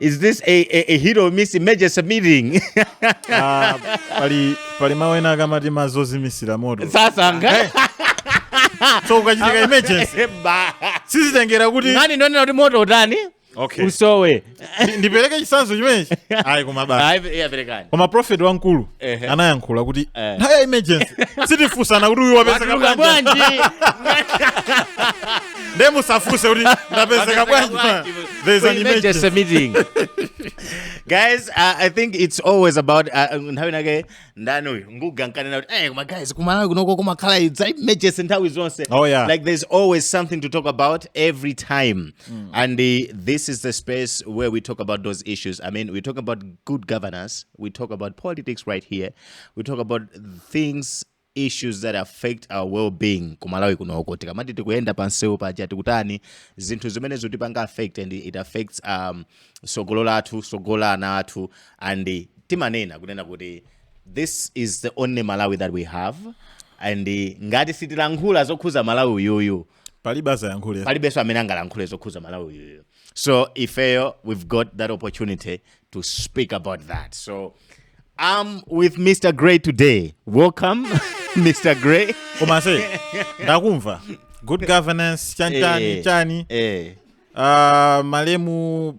is this a, a, a hit or miss emergency meeting Ah, pali pali mawu ena akamati ma zozimisira moto sasankha so ukachitika emergency Ba. sizitengera kuti nani ndiwonena kuti moto utani Okay. usowe Ndi- ndipereke chisanzo chimenechi ayi koma basi Ayi, iya, perekani koma prophet wamkulu Ehe. anayankhula kuti Eh. nthawi ya emergency sitifunsana kuti uyu wapezeka watulukira bwanji bwanji nde musafuse kuti ndapezeka bwanji pa there is an emergency emergency meeting guys uh, i think it's always about uh, nthawi nake ndani uyu nguga nkanena kuti hey, koma guys kumalawi kunoko kumakhala idza emergency nthawi zonse Oh, yeah. like there's always something to talk about every time and uh, this is the space where we talk about those issues i mean we talk about good governance we talk about politics right here we talk about things issues that affect our well-being ku Malawi kunoko tikamati tikuyenda pansewu paja tikutani zinthu zimene zikutipanga affect and it affects um, sogolo lathu sogolo la ana athu and timanena kunena kuti this is the only Malawi that we have and ngati sitilankhula zokhuza Malawi uyuyu palibe azayankhule palibenso amene angalankhule zokhuza malawi uyuyu so ifeyo we've got that opportunity to speak about that so i'm with mr gray today welcome mr gray komanso ndakumva good governance chanchani Eh. chani eh, uh, malemu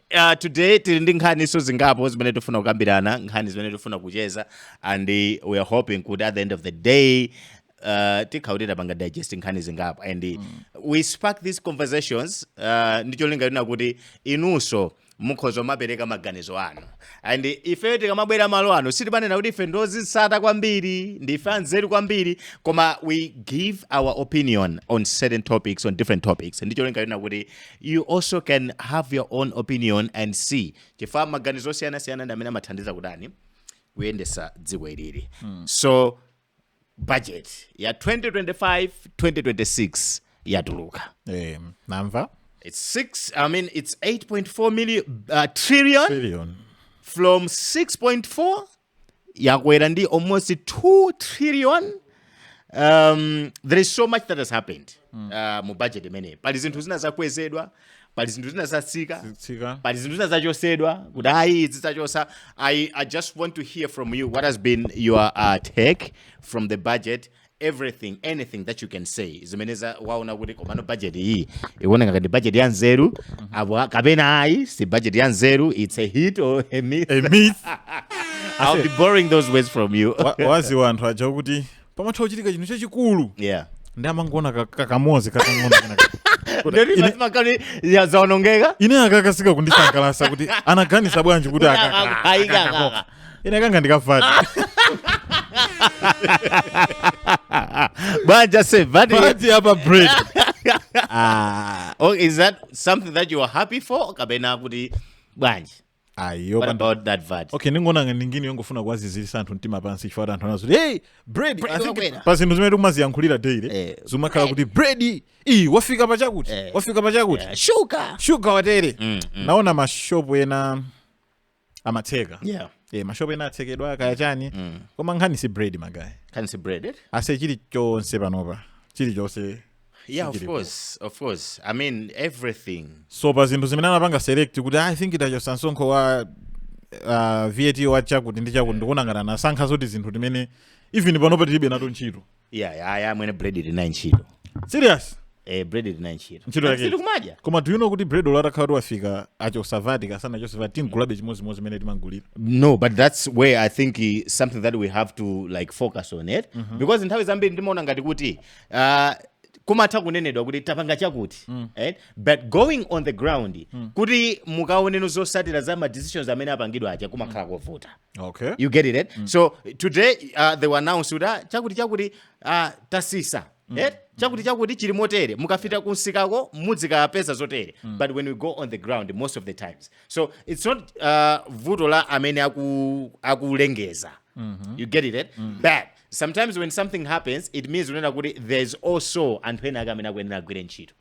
Uh, today tili ndi nkhaniso zingapo zimene tifuna kukambirana nkhani zimene tifuna kucheza and uh, we are hoping kuti at the end of the day uh, tikhala kuti tapanga digest nkhani zingapo and mm. we spark these conversations uh, ndi cholinga chonena kuti inunso mukhoza kumapereka maganizo anu and ifeyo tikamabwera malo ano sitikunena kuti ife ndi ozisata kwambiri ndife anzeru kwambiri koma we give our opinion on certain topics on different topics ndi cholinga chonena kuti You also can have your own opinion and see chifukwa maganizo osiyanasiyana ndi amene amathandiza kutani kuyendesa dziko ilili so budget ya 2025 2026 yatuluka Eh, namva it's six i mean it's 8.4 million uh, trillion trillion from 6.4 yakwera ndi almost 2 trillion um, there is so much that has happened uh, mu budget imeneyi pali zinthu zina zakwezedwa pali zinthu zina zatsika Tsika. pali zinthu zina zachosedwa kuti ayi izi tachosa I, i just want to hear from you what has been your uh, take from the budget everything anything that you can say zimene waona kuti komano budget iyi ikuoneka ngati budget ya nzeru apo a- kapena ayi si budget ya nzeru it's a hit or a miss A miss. i'll be borrowing those words from you Wa- waziwa anthu aja kuti pamatha kuchitika chinthu chachikulu yeah ndi amangoona ka- ka- kamodzi kakang'ono kenaka. Kuti Ndoti ine- mazima kani zaonongeka ine akakasika kundisangalasa kuti anaganiza bwanji kuti akaka Ayi, kaka. ine kanga ndikavati banja se VAT VAT apa bread ah oh, is that something that you are happy for kapena kuti bwanji ayo what panda- about that VAT okay ndikuona ngati ndi ngini yongofuna kuwaziziritsa anthu mtima pansi chifukwa kuti anthu anazo kuti hey bread Bread I think wakwera." pa zinthu zimene tikumaziyankhulira daily Eh, zumakhala kuti bread iyi wafika pa chakuti Eh. wafika pa chakuti Eh, shuka shuga watere Mm, naona mashopu ena amatseka yeah eh mashopu ena atsekedwa kaya chani mm. koma nkhani si bread magaye nkhani si bread iyi aise chili chonse panopa chili chonse yeah of Sikilipo. course of course i mean everything so pa zinthu zimene anapanga select kuti i think itachotsa msonkho wa uh, VAT wa chakuti ndi chakuti ndikuona ngati anasankha zoti zinthu zimene even panopa tilibe nazo ntchito Yeah, yeah, yeah, mwene bread tili nayo ntchito. Serious? Eh, bread tili nayo ntchito. Ntchito yake. Si timadya. Koma do you know kuti bread olo atakhala wafika achotsa VAT kaya sanachotse VAT timugulabe chimodzimodzi mmene timamugulira. No, but that's where I think uh, something that we have to like focus on it mm -hmm. because nthawi zambiri ndimaona ngati kuti uh, kumatha kunenedwa kuti tapanga chakuti mm. right? but going on the ground mm. kuti mukaone no zotsatira za ma decisions amene apangidwa aja kumakhala mm. kovuta okay you get it eh? mm. so today uh, they were announced kuti ah, chakuti chakuti uh, tatsitsa mm. eh? chakuti chakuti chili motere mukapita kumsikako muzikapeza zotere mm. but when we go on the ground most of the times so it's not uh, vuto la amene akulengezawo mm -hmm. you get it eh? mm. but sometimes when something happens it means kunena kuti there's also anthu ena ake amene akuyenera agwire ntchito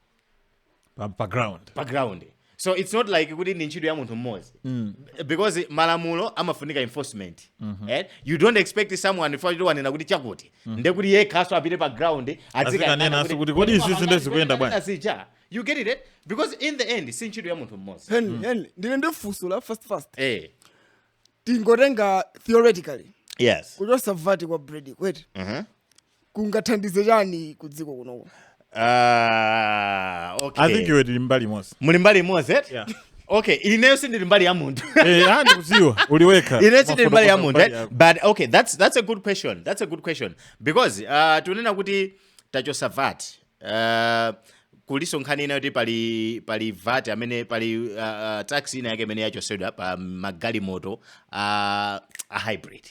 pa, pa ground pa ground so it's not like kuti ndi ntchito ya munthu mmodzi mm. because malamulo amafunika enforcement mm -hmm. eh? you don't expect someone chifukwa choti wanena kuti chakuti mm. nde kuti yekhanso apite pa ground azikanena kuti kodi izi nde zikuyenda bwanji you get it eh? because in the end si ntchito ya munthu mmodzi henry mm. henry ine ndili ndi funso la first first eh. tingotenga theoretically yes kuchotsa VAT kwa bread eti mm -hmm. kungathandize chani kudziko kunoko Ah, okay. i think iwe tili mbali imodzi muli mbali imodzi eti? Yeah. okay ineyo sindili mbali ya munthu Eh, ah, ndikudziwa uli wekha ineyo sindili mbali ya munthu Mbali eh? yako. but okay that's, that's a good question that's a good question because uh, tikunena kuti tachotsa VAT uh, kulinso nkhani ina yoti pali pali VAT amene pali uh, uh, tax ina yake imene yachotsedwa pa magalimoto uh, a hybrid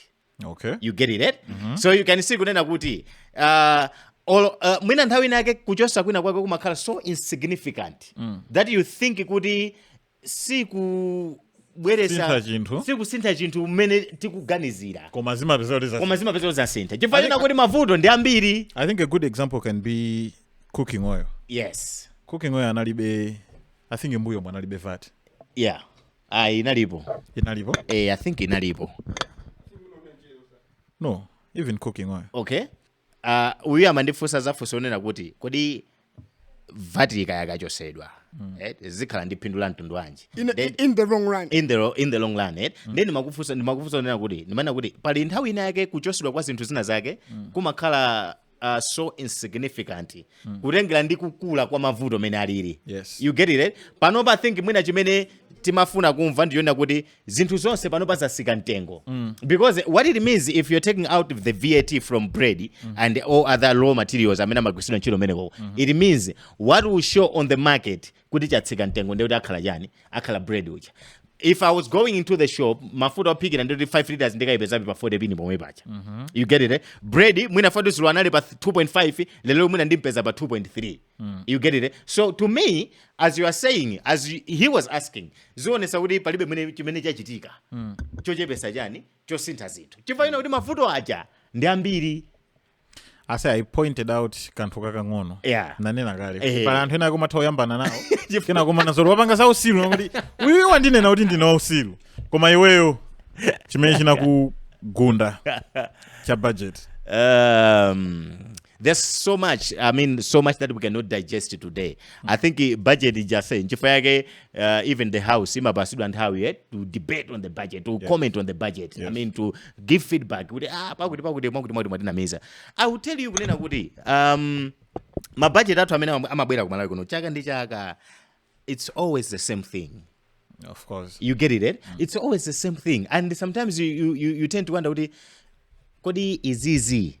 okay. you get it right? mm -hmm. so you can see kunena kuti uh, Olo, uh, mwina nthawi ina yake kuchotsa kwina kwake kumakhala so insignificant mm. that you think kuti sikubweretsa chinthu sikusintha chinthu mmene tikuganizira koma zimapezeka kuti koma zimapezeka kuti zasintha chifukwa chonena kuti mavuto ndi ambiri i think a good example can be cooking oil yes cooking oil analibe i think mmbuyomu analibe VAT yeah ayi inalipo inalipo eh, i think inalipo no even cooking oil okay Ah, uyu amandifunsa zafunso onena kuti kodi vati ikayakachosedwa eh, zikhala ndi phindu la mtundu wanji in, Then- in the long run in the, ro- in the long run eh? ndiye ndimakufunsa ndimafuna kunena kuti ndimanena kuti pali nthawi ina yake kuchosedwa kwa zinthu zina zake kumakhala uh, so insignificant mm. kutengera ndi kukula kwa mavuto mene alili yes. you get it right? panopa think mwina chimene timafuna kumva ndi chonena kuti zinthu zonse panopa zasika mtengo mm. because what it means if you're taking out the vat from bread mm. and all other raw materials amene amagwisidwa ntchito kumeneko mm -hmm. it means what will show on the market kuti chatsika mtengo ndekuti akhala chani akhala bread uja if i was going into the shop mafuta ophikira ndikuti 5 liters ndikayipezabe pa 40 pini pomwe paja mm -hmm. you get it eh? bread mwina dzulo anali pa 2.5 lelo mwina ndimpeza pa 2.3 mm. you get it eh? so to me as you are saying as you, he was asking zionesa kuti palibe mwene chimene chachitika mm. chochepesa chani chosintha zinthu chifukwa chonena kuti mafuta aja ndi ambiri as i pointed out kanthu kakang'ono yeah. nanena kale eh. pali anthu ena akumatha kuyambana nawo kena kumanena zoti wapanga za usilu nkuti uyu wandinena kuti ndine wa usilu koma iweyo chimene chinakugunda cha budget um, there's so much i mean so much that we cannot digest today i think budget ija nchifukwa yake uh, even the house imapasidwa nthawi eh, to debate on the budget to yes. comment on the budget yes. i mean to give feedback kuti ah pakuti pakuti mwakuti mwakuti mwatinamiza i will tell you kunena kuti um mabajeti athu amene amabwera ku malawi kuno chaka ndi chaka it's always the same thing of course you get it eh? mm. it's always the same thing and sometimes you, you, you tend to wonder kuti kodi izizi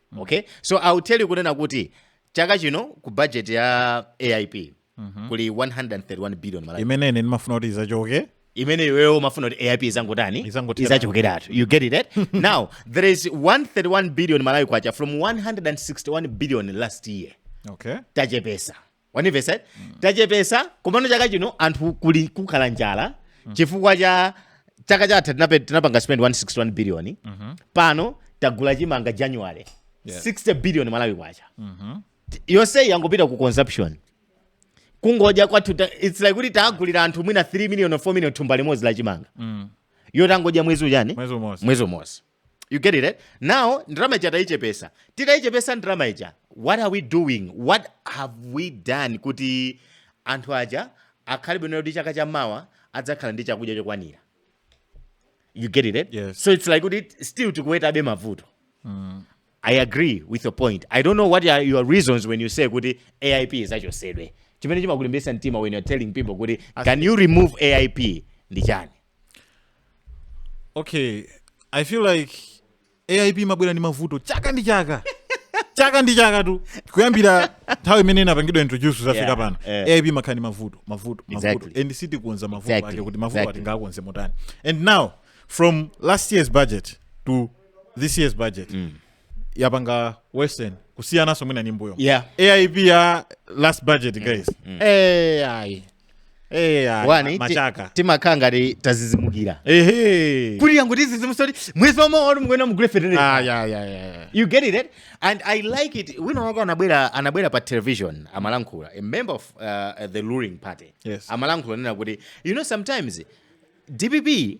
okay so i'll tell you kunena kuti chaka chino ku budget ya aip mhm. kuli 131 billion malawi imene ine ndimafuna kuti izachoke imene iweyo umafuna kuti aip izangotani izachokeratu you get it eh? now there is 131 billion malawi kwacha from 161 billion last year okay tachepesa wanimvesa tachepesa komano chaka chino anthu kuli kukhala njala chifukwa cha chaka chatha tinape- tinapanga spend 161 billion pano tagula chimanga january Yeah. 60 billion malawi kwacha yonseyi yangopita ku consumption kungodya kwathu ta- its like kuti tagulira anthu mwina 3 million or 4 million thumba limodzi la chimanga yotangodya mwezi ujani mwezi umodzi mwezi umodzi you get it eh? now ndalama ija tayichepesa titayichepesa ndalama ija what are we doing what have we done kuti anthu aja akhale bwino kuti chaka cha mawa adzakhala ndi chakudya chokwanira you get it eh? yes. so it's like kuti still tikuwetabe mavuto mm. i agree with your point i don't know what are your reasons when you say kuti aip izichotsedwe chimene chimakulimbitsa mtima when you're telling people kuti can you remove aip ndi chani okay i feel like aip imabwera ndi mavuto chaka ndi chaka chaka ndi chaka tu kuyambira nthawi imene inapangidwa introduce zafika Yeah, pano eh. aip imakhala ndi mavuto mavuto mavuto Exactly. and sitikonza mavuto Exactly, ake kuti mavuto exactly. awa tingakonze motani and now from last year's budget to this year's budget yapanga worsen kusiyananso mwina m'mbuyo Yeah. aip ya last budget guys Eh, ayi Eh, ah, Wani, ti- machaka timakhala ngati tazizimukira ehe kuti yangotidzidzimutsa oti mwezi womwe woti mukuyenera mugule fetereza ah ya ya ya ya. you get it eh? and i like it wina wake anabwera anabwera pa television amalankhula a member of uh, the ruling party Yes. amalankhula kunena kuti you know sometimes dpp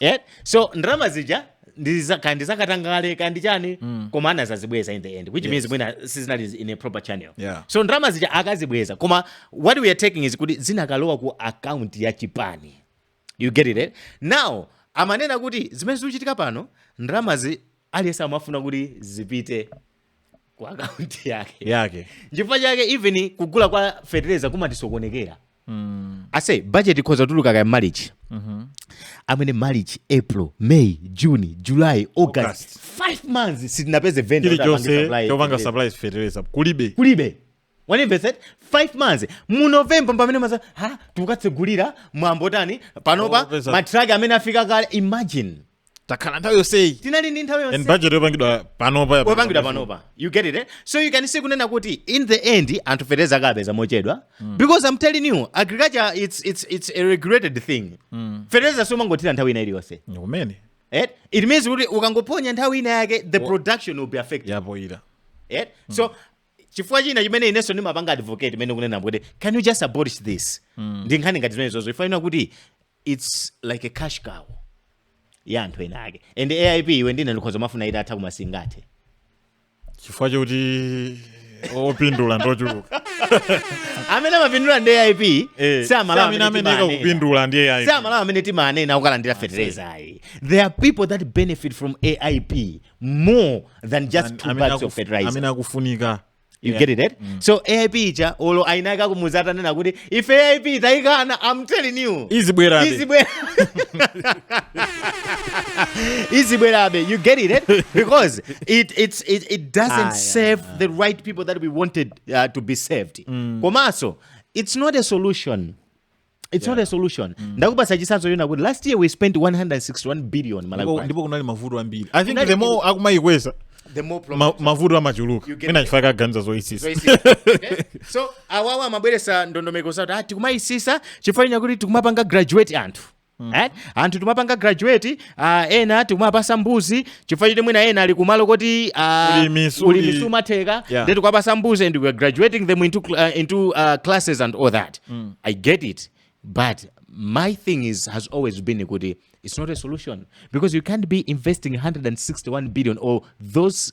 yeah? so ndalama zija ndiza- kaya ndizakatangale kaya ndi chani koma anazazibweza in the end which means mwina sizinali in a proper channel Yeah. so ndalama zija akazibweza koma what we are talking is kuti zinakalowa ku account ya chipani you get it eh? now amanena kuti zimene zikuchitika pano ndalamazi aliyense amafuna kuti zipite ku akaunti yake yake chifukwa chake even kugula kwa fetereza kumatisokonekera mm. I say budget ikhoza kutuluka kaya march mm -hmm. I mean march april may june july august, august. five months sitinapeze vendor wopanga supply fertilizer kulibe kulibe wandimvetsera five months mu november pamene mwina tikukatsegulira mwambo tani panopa matraki amene afika kale imagine takhala nthawi yonseyi tinali ndi nthawi and yonse budget yapangidwa panopa ya- yapangidwa panopa you get it eh? so you can see kunena kuti in the end anthu fertilizer akapeza mochedwa because i'm telling you agriculture it's, it's, it's a regulated thing fertilizer siumangothira nthawi ina iliyonse Ndi kumene eh? it means kuti ukangophonya nthawi ina yake the production will be affected yaphonyera eh? so chifukwa china chimene inenso ndimapanga advocate ineyo kunena kuti can you just abolish this mm. ndi nkhani ngati zimenezozo chifukwa choti its like a cash cow ya anthu ena ake and aip iwe ndine tikhoza kumafuna itatha koma singathe chifukwa chokuti opindula ndochuluka amene amapindula ndi aip eh, si amene ameneka kupindula ndi aip si amalawi amene timanena akalandira fetereza ayi there are people that benefit from aip more than just An- two amene bags akuf- of fertilizer amene akufunika you Yeah. get it right? so aip ija olo ainaka kumuza atanena kuti ife aip tayikana i'm telling you izibwerabe izibwera izibwerabe you get it eh? because it, it's, it, it doesn't Ah, yeah. serve the right people that we wanted uh, to be served komanso it's not a solution it's not a solution ndakupasa chisanzo choona kuti last year we spent 161 billion Ndipo- malawi kwacha. ndipo kunali mavuto ambiri i think Kunali- the more akumayikweza the more problems ma- mavuto amachuluka You get mwina me. chifukwa kaganiza zoyisisa Zoyisisa. Okay? so awawa amabweresa ndondomeko zati ah, tikumayisisa chifukwa chakuti tikumapanga graduate anthu Eh? anthu timapanga graduate Ah, ena tikumapasa mbuzi chifukwa choti mwina ena ali kumalo koti ah, Ulimi suli- ulimi sumatheka Yeah. then tikumapasa mbuzi and we are graduating them into, cl- uh, into uh, classes and all that i get it but my thing is has always been kuti it's not a solution because you can't be investing 161 billion or those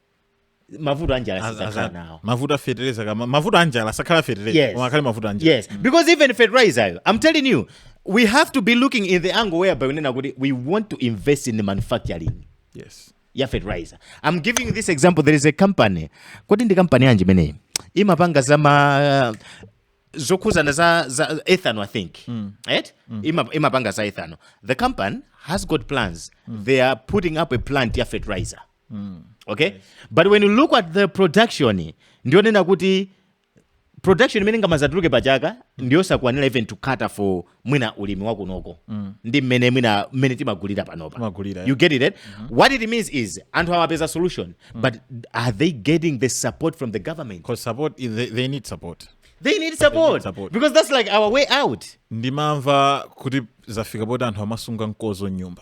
mavuto anjala sazakhala nawo mavuto afetereza kama mavuto anjala sakhala fetereza yes. akhale mavuto anjala yes because even fertilizer i'm telling you we have to be looking in the angle whereby unena kuti we want to invest in the manufacturing yes ya fertilizer i'm giving this example there is a company kodi ndi company yanji imeneyi imapanga zama zokhuzana za, za ethanol i think mm. right mm. Ima, imapanga za ethanol the company has got plans mm. they are putting up a plant ya fertilizer mm. okay but when you look at the production ndi yonena kuti production imene ingamazatuluke pa chaka ndiyosakwanira even to cater for mwina ulimi wakunoko mm. ndi mmene mwina mmene timagulira panopa Timagulira, yeah. you get it right? mm -hmm. what it means is anthu amapeza solution mm. but are they getting the support from the government Because support, they, they need support. they need support, support. because that's like our way out ndimamva kuti zafika poti anthu amasunga mkozo mnyumba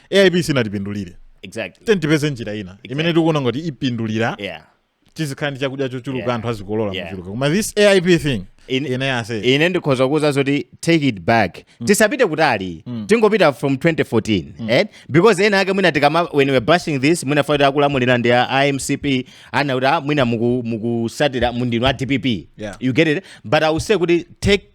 aip siinatipindulire exactly then tipeze njira ina imene tikuona ngati ipindulira yeah tizikhala ndi chakudya chochuluka Yeah. anthu azikolola Yeah. kuchuluka koma this aip thing In- ine ase ine ndikhoza kuuza zoti take it back tisapite kutali tingopita from 2014 eh? because ena ake mwina tikama when we're bashing this mwina foti akulamulira ndi a a mcp ana kuti ah, mwina muku- mukusatira muti ndinu a dpp Yeah. you get it but i will say kuti take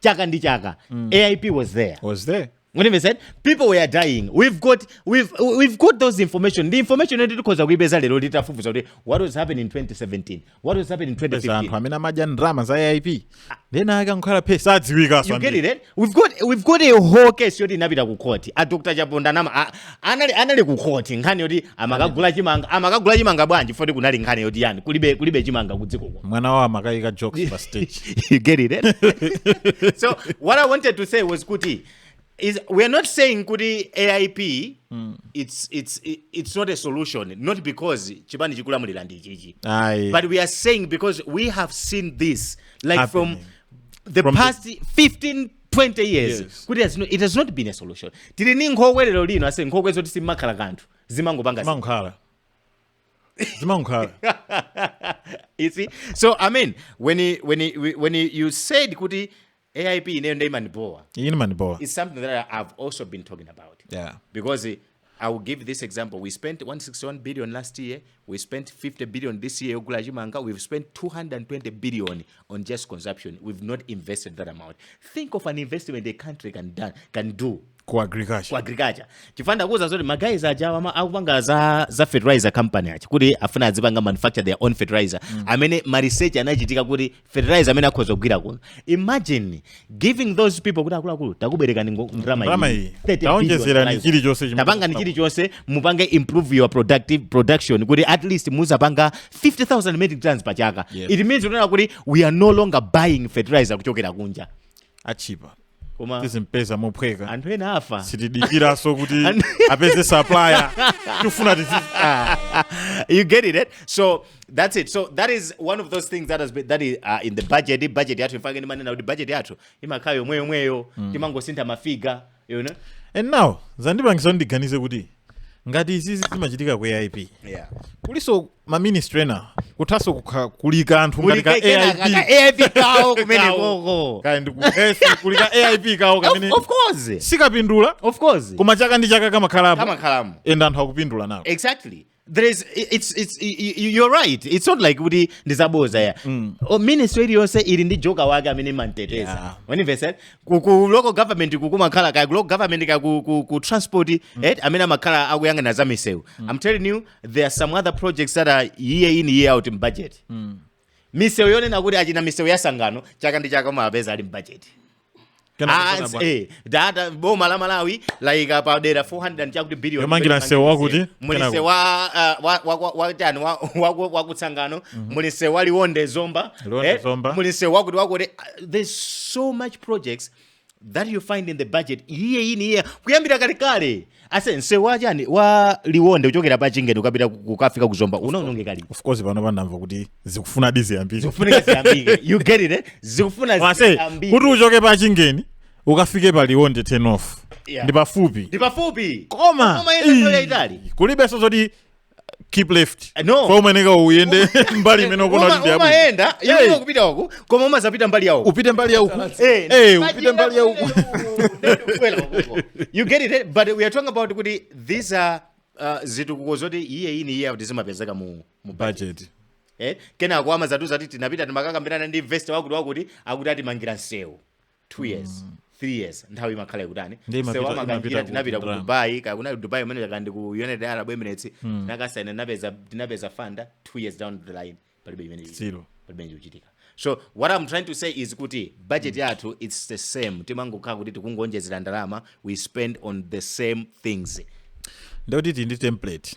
chaka ndi chaka aip was there was there When we said people were dying, we've got we've we've got those information. The information yoti tikhoza kuipeza lero litafufuza kuti what was happening in 2017, what was happening in peza anthu 2015. amene anadya ndalama za aip then ankakhala phe sadziwikaso You get it? Eh? We've got we've got a whole case yoti inapita ku court. A Dr. Chaponda nama a, anali anali ku court nkhani yoti amakagula chimanga amakagula chimanga bwanji foti kunali nkhani yoti yani kulibe kulibe chimanga kudziko kuno mwana wawo amakayika jokes pa stage you get it eh? so what i wanted to say was kuti is we are not saying kuti aip mm. it's, it's, it's not a solution not because chipani chikulamulira ndi chichi but we are saying because we have seen this like Happening. from the from past the... 15 20 years Yes. kuti has no, it has not been a solution tili ni nkhokwe lero lino ase nkhokwe zoti simakhala kanthu zimangopanga zinthu. zimankhwala zimankhwala you see so i mean when he, when he, when he, you said kuti aip ineyo nde imandibowa iyi imandibowa it's something that I- i've also been talking about yeah because eh, I will give this example, we spent 161 billion last year, we spent 50 billion this year yogula chimanga, we've spent 220 billion on just consumption. We've not invested that amount. Think of an investment a country can, done, can do ku agriculture ku agriculture chifanda kuza zoti magayizi aja ama akupanga za za fertilizer company achi kuti afuna adzipanga manufacture their own fertilizer mm. amene ma research anachitika kuti fertilizer amene akhoza kugwira kuno imagine giving those people kuti akuluakulu takubwerekani ngo- ndalama Ndalama iyi. iyi 30 billion. Taonjezerani fertilizer. chilichonse chimene tapangani mukufuna. chilichonse mupange improve your productive production kuti at least muzapanga 50000 metric tons pa chaka Yes. it means unena kuti we are no longer buying fertilizer kuchokera kunja achipa koma tizimpeza mophweka anthu enafe sitidikiranso kuti Anthu- apeze supplier tifuna tizi ah. you get it, eh? So that's it. So that is one of those things that has been that is uh, in the budget. The budget yathu n'chifukwa chake ndimanena kuti budget yathu imakhala yomweyomweyo timangosintha mafiga you know and now zandipangisa ndiganize kuti ngati izizi zimachitika ku aip yeah kuliso ma ministry ena kuthaso kukha- kuli kanthu ngati ka AIP AIP kawo komweko kaya ndi ku health kuli ka AIP kawo kamene of course sikapindula of course koma chaka ndi chaka kamakhalapo kamakhalapo and anthu akupindula nawo exactly there is it's it's you're right it's not like kuti ndizaboza ya mm. Oh, ministry iliyonse ili ndi joker wake amene imamteteza yeah. when you said ku, ku local government kukumakhala kaya ku local government kaya ku, ku, ku transport mm. eh, amene amakhala akuyang'ana za misewu mm. i'm telling you there are some other projects that are year in year out in budget misewu yonena kuti achina misewu ya Tsangano chaka ndi chaka umapeza ali m'bajeti Ah, it's- eh, data boma la malawi laika padera 400 chakuti billion Yomangira msewu wakuti? muli msewu Kenako. wa ah, wa- wa- wa- watani wa- wa- wa- wa ku Tsangano muli msewu wa liwonde zomba Liwonde Zomba. muli msewu wakuti wakuti ah, there's so much projects that you find in the budget year in year kuyambira kalekale ase msewu wa chani wa liwonde kuchokera pa chingeni ukapita ku- kukafika ku Zomba unaonongeka liti of course pano ndamva kuti zikufuna diziyambiri zikufunika ziyambike you get it eh? zikufuna wase ziyambike. kuti uchoke pa chingeni ukafike pa liwonde 10 off Yeah. ndi pafupi ndi pafupi koma Koma ine nthawi yayitali. kulibenso zoti keep left Eh, no. kumafuneka uyende mbali imene ukuona Uma- kuti yabwino umayenda Hey. iwe kupita uku koma umazapita mbali yawo upite mbali ya uku Eh, Eh, but upite you mbali ya know, uku well, well, you get it eh? but we are talking about kuti these are uh, zitukuko zoti year in year out zimapezeka mu, mu budget eh? kenako amazatiuza kuti tinapita tinakakambirana ndi investor wakuti wakuti akuti atimangira msewu 2 years 3 years nthawi imakhala ikutani Ndi imapita- msewu imapita amangira ku- tinapita ku ndalama. dubai ka kunali dubai kumene kaya ndi ku united arab emirates tinakasaina tinapeza tinapeza funder 2 years down the line palibe chimene ili. Zero. palibe chimene chikuchitika so what i'm trying to say is kuti budget yathu it's the same timangokhala kuti tikungoonjezera ndalama we spend on the same things nde kuti tili ndi template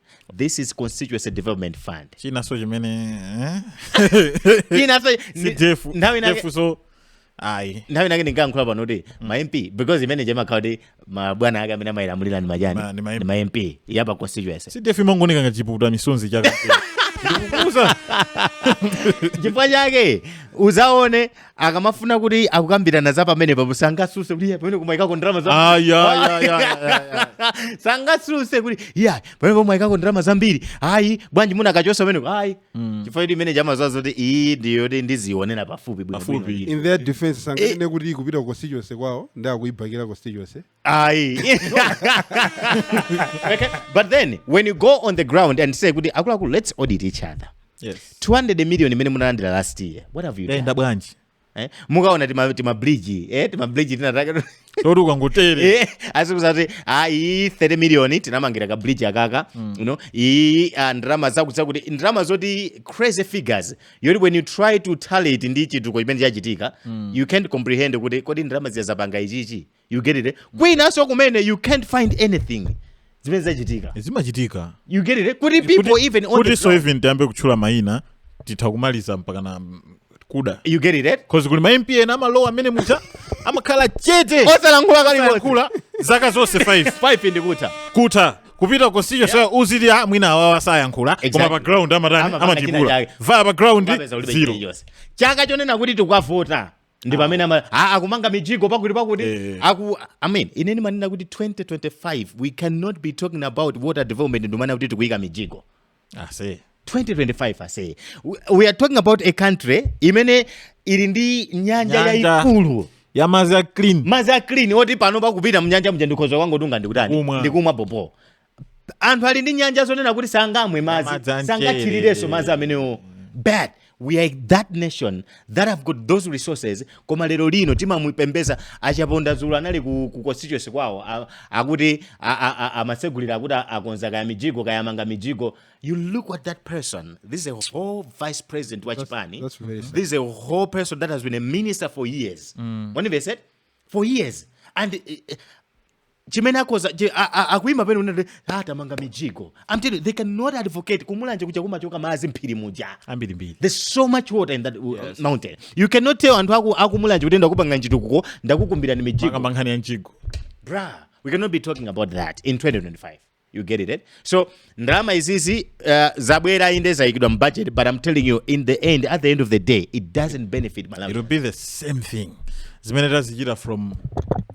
this is constituency development fund chinanso chimene eh? chinanso CDF nthawi inake so ayi nthawi inake ndinkankhula pano kuti mm. ma mp because imene ija imakhala kuti mabwana ake amene amayilamulira ndi anjani ndi ma mp apa constituency CDF imangooneka ngati chipukuta misonzi chake ndikukuuza chifukwa chake uzaone akamafuna kuti akukambirana za pamenepapo sangasuse kuti "Iye, pamene mwaikako ndalama za Ah, ya, ya, ya, ya, ya. sangasuse kuti iya pamene mwaikako ndalama zambiri ayi bwanji munakachosa pamenepo ayi chifukwa kuti imene ija amaziwa zoti iyi ndiyo kuti ndizionera pafupi bwino Pafupi. bwino. in their defense sanganene kuti ikupita ku constituency kwawo ndiye akuibhakira constituency ayi okay. but then when you go on the ground and say kuti akuluakulu let's audit each other yes. 200 million imene munalandira last year what have you done? inayenda bwanji eh? mukaona timabridge eh? timabridge tinatake toti ukangotere eh? azikuuza kuti ayi 30 million tinamangira ka bridge akaka mm. you know iyi uh, ah, ndalama zakuti ndalama zoti crazy figures yoti when you try to tally it ndi chituko chimene chachitika mm. you can't comprehend kuti kodi ndalama zija zapanga chichi you get it eh? kwinanso kumene you can't find anything zimene zachitika zimachitika you get it eh? kuti people Kuti- even on the kutinso ground, even tiyambe kutchula mayina titha kumaliza mpaka na mm, kuda you get it eh? cause kuli ma mp ena amalowa amene muja amakhala chete osalankhula kalikonse zaka zonse five ndikutha kutha kupita ku constituency yeah. so uziti ah, mwina awawa sayankhula Exactly. koma pa ground amatani Amapanga china amatibula chake. vaya pa ground Wapeza ulibe zero chilichonse. chaka chonena kuti tikwavota ndi pamene ama ah, akumanga mijigo pakuti pakuti Eh. aku i mean ine ndimanena kuti 2025 we cannot be talking about water development ndikumanena kuti tikuyika mijigo ase 2025 ase we, we are talking about a country imene ili ndi nyanja Nyanja. yayikulu yamazi ya clean madzi a clean oti pano pakupita mnyanja muja ndikhoza kungotunga ndikutani Kumwa. ndikumwa bobo anthu ali ndi nyanja zonena kuti sangamwe Madzi madzi amchere. sangathirirenso madzi amenewo but we are that nation that have got those resources koma lero lino timamupembeza achaponda dzulo anali ku, ku constituency kwawo a- akuti a- a- a- amatsegulira akuti a- akonza kaya mijigo kaya amanga mijigo you look at that person this is a whole vice president wa chipani that's very sad. this is a whole person that has been a minister for years mm. when they said for years and eh, eh, chimene akhoza chi- a- a- akuima penapake kunena kuti ah tamanga mijigo i'm telling you they cannot advocate kumulanje kuja kumachoka madzi mphiri muja ambirimbiri there's so much water in that uh, mountain you cannot tell anthu akumulanje kuti ndakupangirani chitukuko ndakukumbirani mijigo mukukamba nkhani ya mjigo bruh we cannot be talking about that in 2025 You get it, eh? So ndalama izizi uh, zabwera inde zaikidwa mbudget but I'm telling you in the end at the end of the day it doesn't benefit It Malawi. will be the same thing. Zimene tazichita from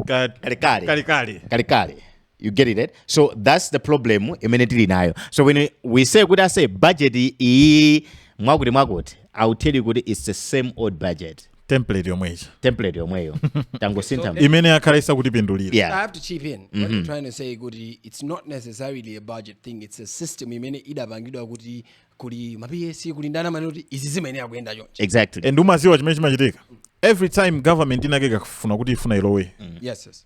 ka- Kalekale. kalekale. Kalekale. You get it, eh? So that's the problem imene tili nayo. So when we- we say kuti ase budget iyi mwakuti mwakuti I will tell you kuti it's the same old budget. template yomwe ija template yomweyo tangosintha mu- imene yakhala isakutipindulira I yeah have to chip in. What I'm trying to say, Goody, it's not necessarily a budget thing. It's a system. Imene idapangidwa kuti kuli mapiyesi kuli ndani mani kuti izi zimayenera kuyenda chonchi. exactly and umaziwa chimene chimachitika every time government inake ikafuna kuti ifuna ilowe Yes, yes.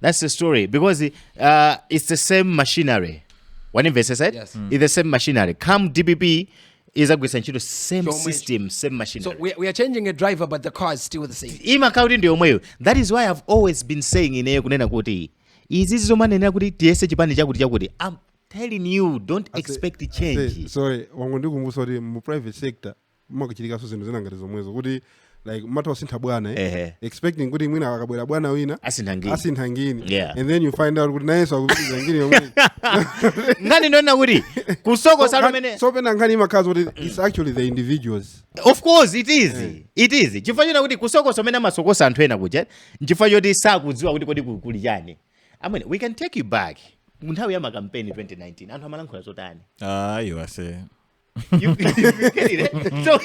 That's the story because uh, it's the same machinery. When investors said yes. mm. it's the same machinery. Come DPP is a ntchito same so system same machine so we, we are changing a driver but the car is still the same imakauti ndi yomweyo that is why i've always been saying ineyo kunena kuti izi zomanenera kuti tiyese chipani chakuti chakuti i'm telling you don't expect change sorry wangu ndikumbuswa kuti mu private sector mmakuchitikanso zinthu zina ngati zomwezo kuti like mmatha kusintha bwana eh? Ehe. expecting kuti mwina akabwera bwana wina asintha ngini asintha ngini Yeah. and then you find out kuti nayenso akupitiriza ngini yomwe nkhani ndonena kuti kusokosa kumene so pena nkhani imakhala kuti it's actually the individuals of course it is it is chifukwa china kuti kusokosa umene amasokosa anthu ena kuja nchifukwa choti sakudziwa kuti kodi ku- kuli chani I mean we can take you back mu nthawi ya makampeni 2019 anthu amalankhula zotani ayo ase You- you get it, eh? So-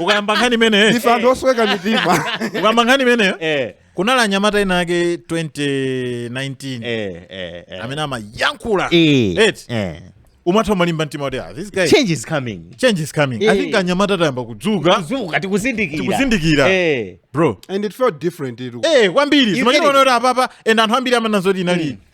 ukayamba nkhani imeneyo ife anthu osweka mitima ukayamba nkhani imeneyo Eh, kunali anyamata ena ake 2019 eh, eh, eh. amene amayankhula Eh, Eti. eh. umatha umalimba mtima kuti ah, this guy change is coming change is coming i Eh. think anyamata tayamba kudzuka kuzunguka tikuzindikira Tikuzindikira. Eh. bro and it felt different ilu eh kwambiri zimachiona kuti apapa and anthu ambiri amanena zoti inali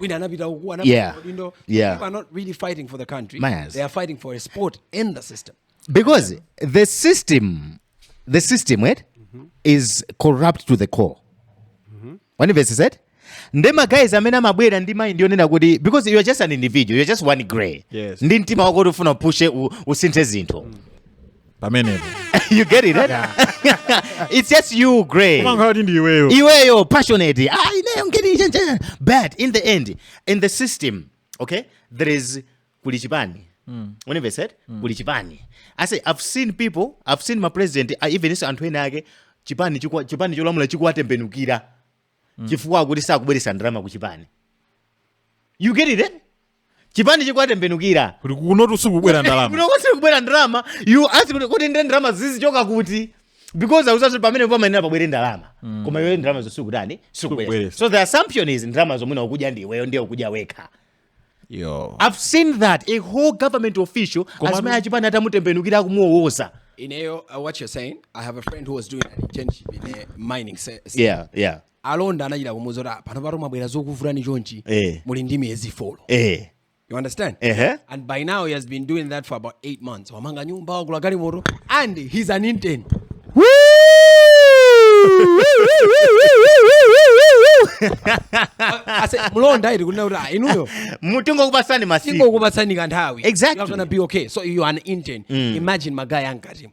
wina anapita uku anapeza yeah. udindo yeah. people are not really fighting for the country Yes. they are fighting for a spot in the system because yeah. the system the system right mm -hmm. is corrupt to the core mm -hmm. one verse said nde magayizi amene amabwera ndi mind yonena kuti because you are just an individual you are just one gray yes. ndi mtima wako kuti ufuna upushe usinthe zinthu mm. pamenepo you get it eh? it's just you grey kumanga kuti ndi iweyo iweyo passionate ah ineyo ngeni nje nje but in the end in the system okay there is kuli chipani when they said kuli chipani i say i've seen people i've seen my president uh, even if so anthu ena ake chipani chikwa- chipani cholamula chikuwatembenukira chifukwa akuti sakubweretsa ndalama ku chipani you get it eh? chipani chikuwatembenukira kuti kunotu sikubwera ndalama kunoko sikubwera ndalama you ask kuti kuti ndiye ndalama zizichoka kuti because akudziwanso pamene pamayenera pabwere ndalama koma iwe ndalama zo sukutani sikubwera Sikubweretsa. so the assumption is ndalama zomwe ukudya ndi iweyo ndiye ukudya wekha yo i've seen that a whole government official Koma- azimayi achipani atamutembenukira kumuwowoza ineyo uh, what you're saying i have a friend who was doing an internship in a mining se- se- yeah yeah alonda anachita kumuuza kuti "Ah, pano panopa mwabwera zikuvutani chonchi Eh. muli ndi miyezi folo eh you understand Ehe. and by now he has been doing that for about eight months wamanga nyumba wagula galimoto and he's an intern ase mlonda iri kunena kuti ah, inuyo tingokupatsani masiku tingokupatsani kanthawi Exactly. You're gonna be okay so you are an intern imagine magaye ankatimu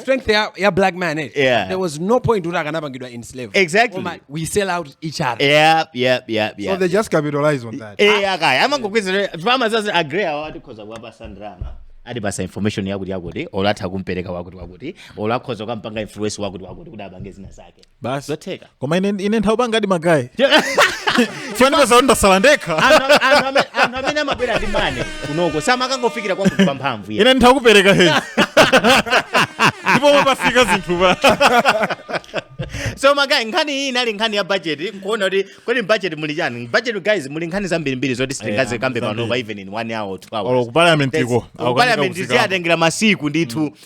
strength ya, ya black man eh? Yeah. there was no point kuti akanapangidwa in slave Exactly. Koma we sell out each other yep yep yep So yep they just capitalize on that. eh akaya amangokwezera farmers aka agree awa tikhoza kuwapasa ndalama atipasa information yakuti yakuti olo atha kumpereka wakuti wakuti olo akhoza kukampanga influence wakuti wakuti kuti apange zina zake basi zotheka koma ine ine nthawi yopangadi magayi chondipeza kuti ndasala ndekha Anthu- anthu ame- anthu amene amabwera ndi mane kunoko samakangofikira kwa munthu pamphamvu iye. ine nditha kupereka hei ndipo pamene pafika zinthu pa so magayi nkhani iyi inali nkhani ya budget nkuona kuti kodi budget muli chani budget guys muli nkhani zambirimbiri zoti sitingazikambe zambiri. panopa even in one hour or two hours Olo ku parliament iko, Ku akukambika parliament kufikako. zimatengera masiku ndithu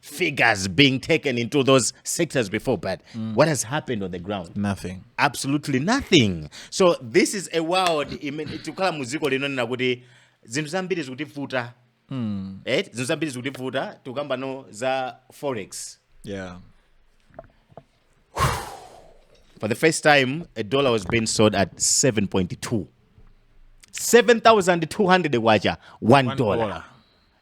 figures being taken into those sectors before, but mm. what has happened on the ground? Nothing. Absolutely nothing. So this is a world tikukhala mu dziko lonena kuti zinthu zambiri zikutivuta mm. eh? zinthu zambiri zikutivuta tikukamba pano za forex yeah. For the first time, a dollar was being sold at 7.2. 7,200 kwacha, one, one dollar. dollar.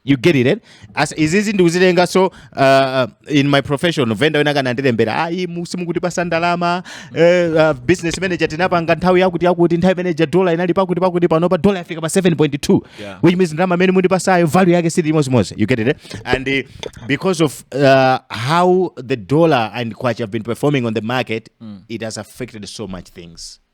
you get it eh? As, izizi ndikuzitenga so uh, in my profession vendor wina wake anandilembera ayi mu- simukutipasa ndalama eh, uh, business manager tinapanga nthawi yakuti yakuti nthawi imene ija dola inali pakuti pakuti panopa dola yafika pa 7.2 Yeah. which means ndalama imene mundipasayo value yake siili chimodzimodzi you get it eh? and uh, because of uh, how the dollar and kwacha have been performing on the market it has affected so much things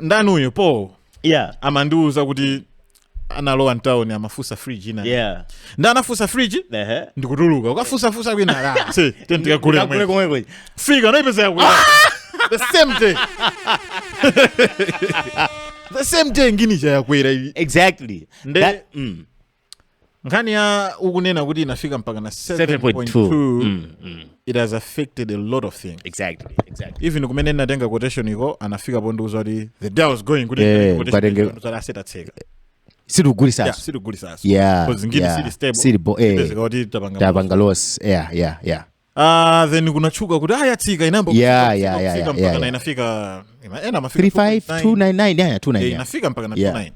ndani uyu paul yeah amandiuza kuti analowa mtawuni amafunsa fridge ina yeah ndi anafunsa fridge ehe ndikutuluka kukafunsafunsa kwina ah, si, then tikagule Kagule komwe. komwe kuja. kufika anaipeza yakwera the same day the same day ngini chayakwera iyi exactly Nde- That- mm. nkhani yomwe ukunena kuti inafika mpaka na 7.2 mm, mm. it has affected a lot of things exactly, exactly. even kumene ndinatenga quotation iko anafika pondiuza kuti the day was going kuti yeah, asetatseka sitikugulisaso sitikugulisaso yeah, yeah, siili stable eh, tapanga loss yeah, yeah, yeah. Ah, then kunatchuka kuti ah, yatsika inayamba Yeah, kufika, yeah, kufika, yeah, kufika yeah, mpaka yeah. na inafika ima- ena amafika 2.9. 35299 yeah, 29 Eh, yeah. inafika mpaka na Yeah. 29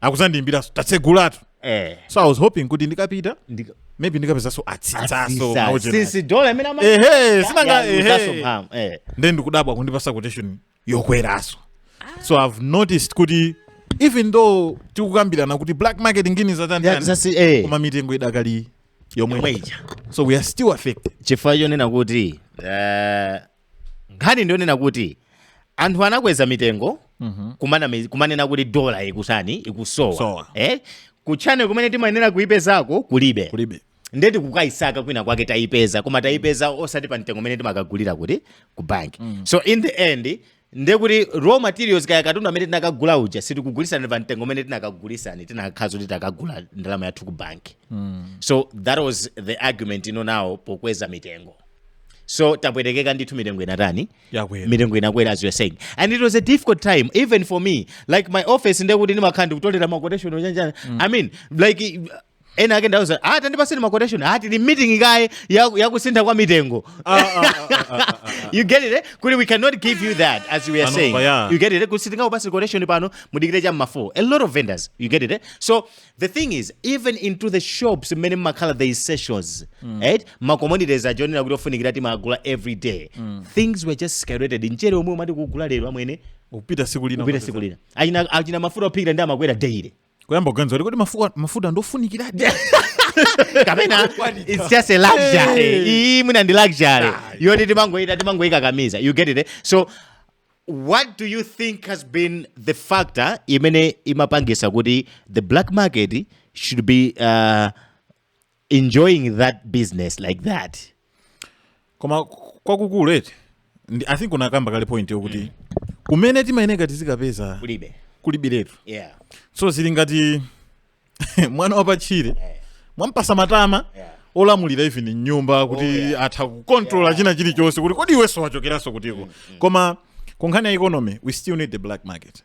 akuzandiimbiraso tatsegulatu Eh. so i was hoping kuti ndikapita Ndika- maybe ndikapezaso atsitsaso Atsisa. nawo jera. Since dollar imene ama- ehe sinanga Yeah, utaso ehe mphamvu, eh. nde ndikudabwa kundipasa quotation yokweraso so i've noticed kuti even though tikukambirana kuti black market ngini Yeah, zatantani zasi eh koma mitengo idakali yomweyomwe ija so we are still affected chifukwa chonena kuti eh, nkhani ndiyonena kuti anthu anakweza mitengo kumana- kumanena kuti dola ikutani ikusowa Sowa. eh? kuujeni kumene timayenera kuipezako kulibe kulibe nde tikukayisaka kwina kwake tayipeza koma tayipeza osati pa mtengo umene timakagulira kuti ku bank mm. so in the end nde kuti raw materials kaya katundu amene tinakagula uja sitikugulitsani pa mtengo umene tinakagulitsani tinakakhala zoti takagula ndalama yathu ku bank mm. so that was the argument ino nawo pokweza mitengo so tapwetekeka ndithu mitengo inatani Yakwera. mitengo inakwera as you are saying and it was a difficult time even for me like my office ndekuti ndimakhala ndikutolera maquotation ochanjana i mean like ena ake ndawauza ah tandipaseni ma quotation ah tili meeting kaye ya, ya kusintha kwa mitengo Ah, ah, ah, ah, ah, ah. you get it eh? kuti we cannot give you that as we are Pano, saying yeah. you get it eh? kuti sitingakupasi quotation pano mudikire cha mma4 a lot of vendors you get it eh? so the thing is even into the shops mmene mumakhala there is sessions right ma commodities oonekera kuti ofunikira timagula every day things were just skyrocketed mchere omwe umati kugula lero amwene upita siku lina upita siku lina achina, achina mafuta ophikira ndi amakwera daily kuyamba kuganiza kuti kodi mafuka- mafuta ndi ofunikiradi kapena it's just a luxury Eh. iii mwina ndi luxury Ayi. yoti timangoyita timangoyikakamiza you get it eh? so what do you think has been the factor imene imapangisa kuti the black market should be uh, enjoying that business like that koma kwakukulu eti ndi- i think unakamba kale point yokuti kumene timayeneka tizikapeza kulibe kulibiretu yeah so zili ngati mwana wapatchire mwampasa matama Yeah. olamulira even m'nyumba kuti yeah. atha kukontrola Yeah. china chilichonse kuti kodi iwenso wachokeranso kutiko koma kunkhani ya economy we still need the black market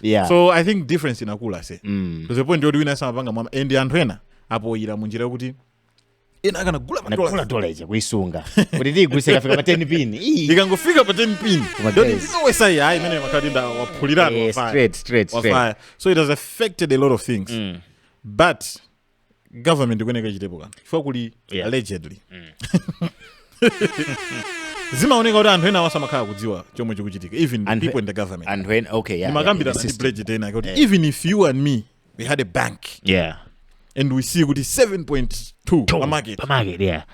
yeah. so i think difference inakula so mm. to the point yoti wina samapanga mwama and anthu ena apoyira mu njira yokuti ena akanagula nagula ma dollar dollar ija kuisunga kuti tiigulise ikafika pa 10 pin Ii. ikangofika pa 10 pin Koma don't guys. even always say hayi imene makati nda waphulirana Eh, wafaya. straight, straight, straight. Wafaya. so it has affected a lot of things but government ikuyeneka ichitepo kanthu chifukwa kuli Yeah. allegedly Mm. zimaoneka kuti anthu enaawanso amakhala akudziwa chomwe chikuchitika even the Anthu- people in the government anthu ena okay yeah, ndimakambira yeah, ndi the system. bridget ena kuti even if you and me we had a bank yeah and we see kuti 7.2 pa market pamake yeah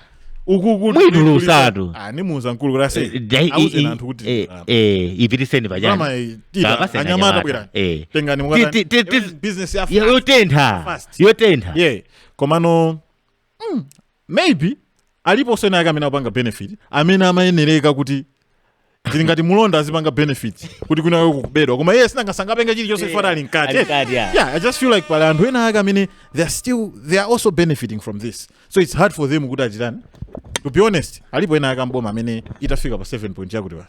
uku kuti Mwitulusatu. Ah, ndimuuza mkulu kuti ase Eh, dai- auze i- i- anthu kuti eh, ah, eh, ipitiseni pajani Mama, eh, tita, Kapase anya- anyamata nyamata. bwera. Eh. tengani Ti- ti- ti- ti- mukata business ya Ya- yotentha Fast. yotentha yeah komano mm, maybe aliponso ena ake amene akupanga benefit amene amayenereka kuti zili ngati mulonda azipanga benefit kuti kwina kwake kukubedwa koma iye sinanga sangapange chilichonse chifukwa ali mkati Ali mkati, yeah. yeah i just feel like pali anthu ena ake amene they are still they are also benefiting from this so it's hard for them kuti achitani to be honest alipo ena ake amboma amene itafika pa 7 point yakuti wa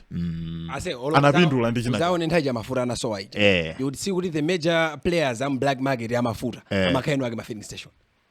Ase, olo- Anapindula ndi china- Uzaone nthawi ya mafuta anasowa ija. Eh. You would see kuti the major players am black market amafuta. Eh. Amakhala eni ake a ma filling station.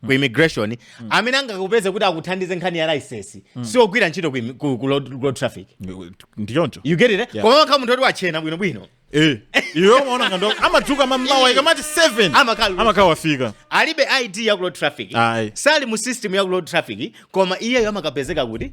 ku mm. immigration mm. amene angakupeze kuti akuthandize nkhani ya license mm. si ogwira ntchito ku, ku, ku road, road traffic ndiye choncho you get it eh? yeah. koma amakhala munthu oti wachena bwino bwino eh iwe umaona ngati amadzuka mamawa ikamati 7 amakhala amakhala wafika alibe id ya ku road traffic Aye. sali mu system ya ku road traffic koma iyeyo amakapezeka kuti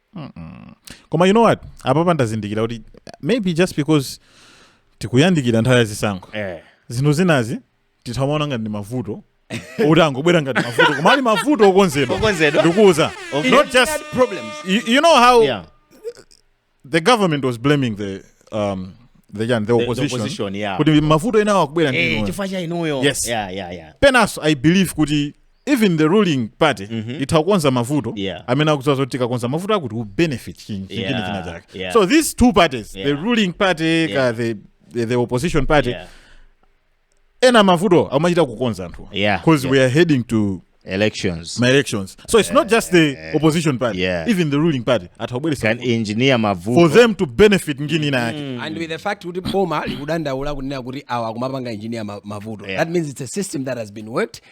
koma you know what apapa ndazindikira kuti maybe just because tikuyandikira nthawi ya zisankho eh. zinthu zinazi titamaona ngati ndi mavuto oti angobwera ngati mavuto koma ali mavuto okonzedwa okonzedwa ndikuuza Okay. not just problems you, you know how yeah the government was blaming the um the, the, the opposition, opposition, yeah. kuti mavuto enawo akubwera ndi eh inuyo. chifukwa cha inuyo Yes. yeah yeah yeah penaso i believe kuti even the ruling party mm -hmm. itha kukonza mavuto yeah. amene akudziwa zoti tikakonza mavuto akuti will benefit chini yeah. chini china chake yeah. so these two parties yeah. the ruling party yeah. ka the, the, the opposition party yeah. ena mavuto amachita kukonza anthu yeah. because yeah. we are heading to elections my elections so it's uh, not just the uh, opposition party yeah. even the ruling party at atawabweresa can engineer mavuto for them to benefit ngini ina yake mm. and with the fact kuti boma likudandaula kunena kuti awa akumapanga engineer mavuto yeah. that means it's a system that has been worked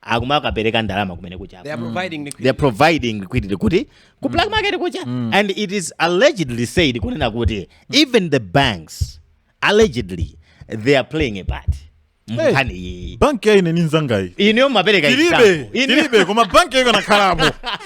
akumakapereka ndalama kumene kuja They are providing liquidity. they're providing liquidity kuti ku black market kuja and it is allegedly said kunena kuti even the banks allegedly they are playing a part mnkhani iyi banki ya ine ndi nzangayi ineyo mapereka tilibe example. Ineyo- tilibe koma banki yako kanakhalapo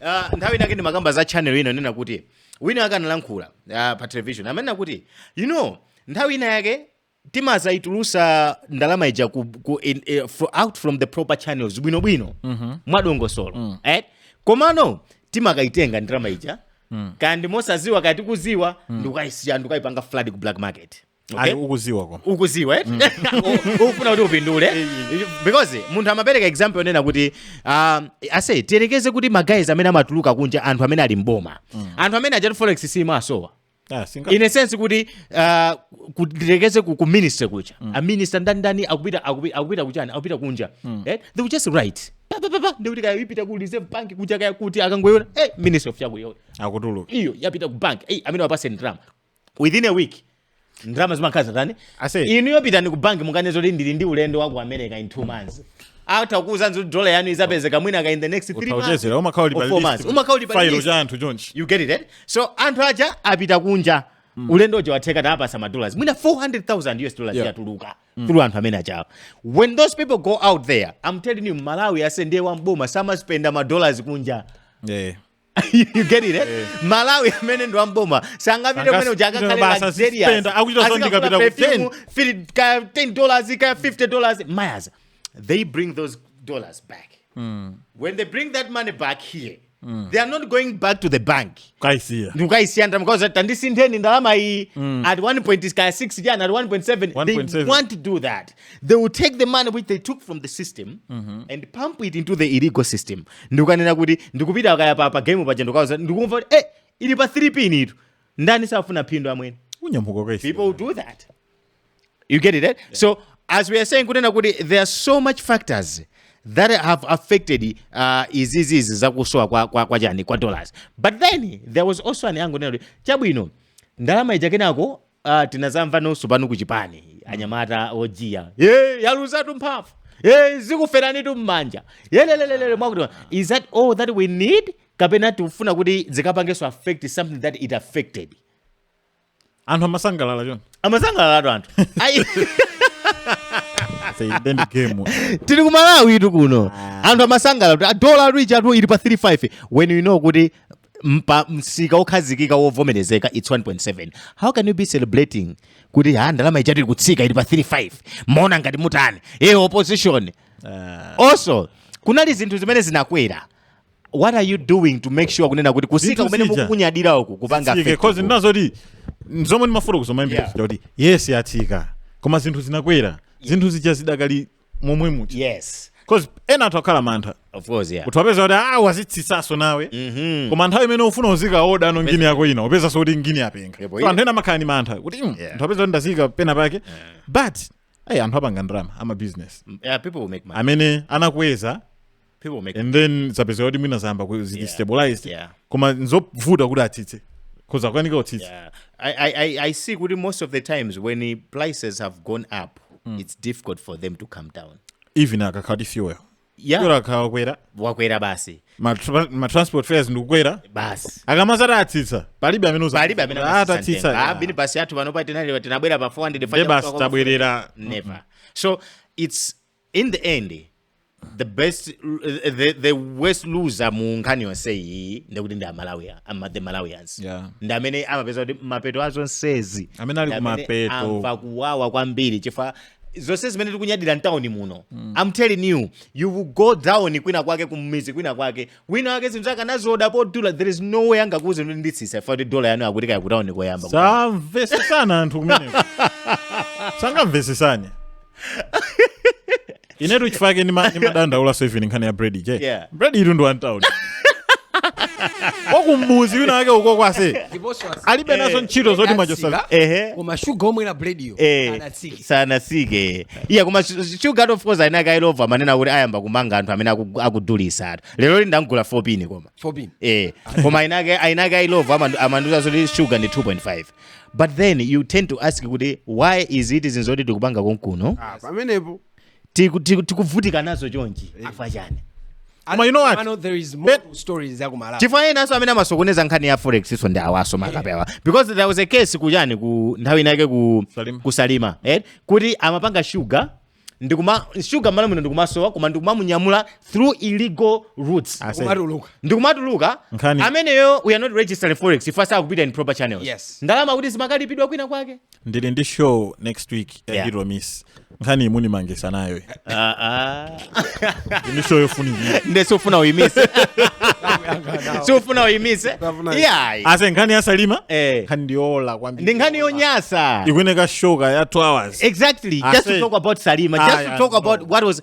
Ah, nthawi inake ndimakamba za channel ina anena kuti wina ake analankhula ah, pa television amanena kuti you know nthawi ina yake timazaitulusa ndalama ija ku, ku in, eh, fro, out from the proper channels bwinobwino mm-hmm. mwadongosolo mm. eh? komano timakaitenga ndalama ija mm. kaya ndi mosaziwa kaya tikuziwa mm. ndikukaisiya ndikukaipanga flood ku black market Okay? Ayi, ukuziwa koma ukuziwa eh? U- ufuna kuti upindule because munthu amapereka example yonena kuti um, ase tiyerekeze kuti magayizi amene amatuluka kunja anthu amene ali mboma anthu amene ajatu forex simasowa Ah, singa- in a sense kuti uh, tiyerekeze ku, ku ministry kuja mm. a minister ndani ndani akupita akupi- akupita kuchani akupita kunja mm. eh? they will just write pa pa pa pa ndikuti kaya ipita ku reserve bank kuja kaya kuti akangoyona eh ministry of chakuti akutuluka iyo yapita ku bank eh amene wapase ndalama within a week ndalama zimakhala zatani Ase. inu yopitani ku banki mukanena kuti ndili ndi ulendo wa ku america in two months atha kukuuzani kuti dola yanu izapezeka mwina ka in the next three months utauchezera umakhala uli or pa four list. months. Umakhala uli pa File list. cha anthu chonchi you get it eh? so anthu aja apita kunja ulendo uja watheka tapasa madollars mwina 400000 us dollars Yeah. yatuluka through anthu amene aja wo when those people go out there i'm telling you Mmalawi amene ndi wamboma samaspenda madollars kunja yeah. you you get it eh? Mmalawi amene ndi wamboma sangapite kumene kuja Sangapite akakhale basa, luxurious. spenda, akuchita Azikafuna zondikapita ku perfume, 10. fili- ka 10 dollars ka 50 dollars mayas they bring those dollars back when they bring that money back here they are not going back to the bank kaisiya ndikukaisiya ndikukauza kuti tandisintheni ndalama iyi at 1.6 kaya 6 chani at 1.7 they 1.7. won't to do that they will take the money which they took from the system mm-hmm. and pump it into the illegal system ndikunena kuti ndikupita kaya pa, pa game paja ndikauza ndikumva kuti eh ili pa 3 pin itu ndani safuna phindu amwene unyamuka kwa people will do that you get it right? Eh? yeah. so as we are saying kunena kuti there are so much factors that have affected uh, izizizi zakusowa kwa, kwa, kwa chani kwa dollars but then there was also an angle kunena kuti chabwino ndalama ija kenako Ah, tinazamva nonso pano kuchipani anyamata ojiya ija yaluzatu mphamvu ye zikuferanitu mmanja yelelelelele mwakuti is that all that we need kapena tikufuna kuti zikapangenso affect something that it affected anthu amasangalala choncho amasangalalatu anthu Ayi, Say, then the game. tili ku Malawitu kuno anthu amasangalala kuti dola ichatu ili pa 35 when you know kuti pa msika wokhazikika wovomerezeka its 1.7 how can you be celebrating kuti ha ndalama ichati kutsika ili pa 35 mumaona ngati mutani e opposition also kunali zinthu zimene zinakwera what are you doing to make sure kunena kuti kutsika Zinthu kumene zija. mukukunyadira uku kupanga Zitsike, affect cause ku- ndi zoti zomwe ndimafuna kuzamaimbira Yeah. kuti yes yatsika koma zinthu zinakwera zinthu zija zidakali momwe muja yes cause ena anthu akhala mantha of course yeah kuti wapeza kuti ah wazitsitsanso nawe mhm koma nthawi imene ufuna uzikaodano ngini yako ina upezanso kuti ngini yapenga Yebo, so anthu ena amakhala ni mantha kuti mm, Yeah. anthu apeza kuti ndazika pena pake but ayi anthu apanga ndalama ama business yeah people will make money amene anakweza people make and then zapezeka kuti mwina zayamba ku- zili Yeah. stabilized yeah koma nzovuta kuti atsitse kuzakwanika utsitse Yeah. I, I, I- I see kuti most of the times when the prices have gone up it's difficult for them to come down even akakhala kuti fuel yeah fuel akakwera wakwera basi ma tra- ma transport fares ndikukwera basi akamazati atsitsa palibe amene uza- palibe amene Ah, tatsitsa yeah. a minibus athu panopa tinali tinabwera pa 400 Nde basi tabwerera never so it's in the end the best the, the worst loser mu nkhani yonse iyi ndikuti ndi amalawi ama, the malawians Yeah. ndi amene amapezeka kuti mapeto a zonsezi Amene ali ndi amene kumapeto. amva kuwawa kwambiri chifukwa zonse zimene tikunyadira mtawuni muno i'm telling you you will go down kwina kwake kummizi kwina kwake wina wake zinthu zake anazioda pa dollar there is no way angakuuze kuti nditsitsa chifukwa choti dola yanu akuti kaya kutauni koyamba samvesesana anthu kumeneko sangamvesesane inetu chifukwa chake ndima- ndimadandaula so even nkhani ya bread ija Yeah. bread itu ndi wa mtauni wakumudzi wina wake ukoko ase ndiponso asi- alibe nazo ntchito zoti machosala ehe koma shuga omwera bread yo eh, anatsikisa sanatsike iya koma sugar of course a Inakailovo amanena kuti ayamba kumanga anthu amene aku- akudulisa atu lero ndamgula 4 pin koma 4 pin eh koma ainake a Illovo amandu- amanduza zoti sugar ndi 2.5 but then you tend to ask kuti why is it zinthu zoti tikupanga konkuno Ah, pamenepo tiku- tiku- tikuvutika nazo chonchi chifukwa chani Koma you know what? I know there is more to stories za ku Malawi. chifukwa enanso amene amasokoneza nkhani ya forex-yiso ndi awaso makape awa because there was a case kujani ku nthawi inayake ku Salima. kusalima eh? kuti amapanga shuga ndikuma shuga mmalo muno ndikumasowa koma ndikumamunyamula through illegal routes Ase- Kumatuluka. ndikumatuluka Nkhani. ameneyo we are not registering forex if asakupita in proper channels Yes. ndalama kuti zimakalipidwa kwina kwake ndili ndi show next week ya Yeah. hero miss nkhani imuni mangisa nayo Ah, ah. ndi show yofunikira nde siufuna uyimise siufuna uyimise Safuna- iyayi ase nkhani ya salima Eh. nkhani ndiyola kwambiri ndi nkhani yonyasa ikuyeneka show ka ya 2 hours exactly I just to say- talk about salima just Ah, to yeah, talk about no. what was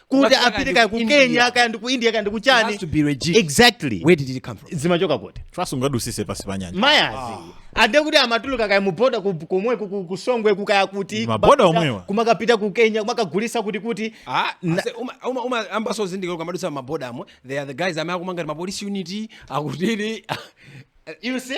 kuti Kaya apite ndi kaya ku ku India. kenya kaya ndi ku india kaya ndi ku It has chani to be registered. exactly where did it come from zimachoka kuti trust ungadusise pasi pa nyanja mayazi ande kuti amatuluka kaya muboda ku- komwe ku- ku- kusongwe kukaya kuti Maboda kumapita- omwewa. kumakapita ku kenya kumakagulisa kuti kuti Ah, ase- uma- uma- uma- ambaso zindikira kumadutsa mabodamo they are the guys amene akumanga mapolisi unity akuti you see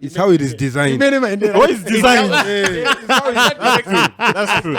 It's how it is designed. Imene maendera. Oh, it's designed. That's true.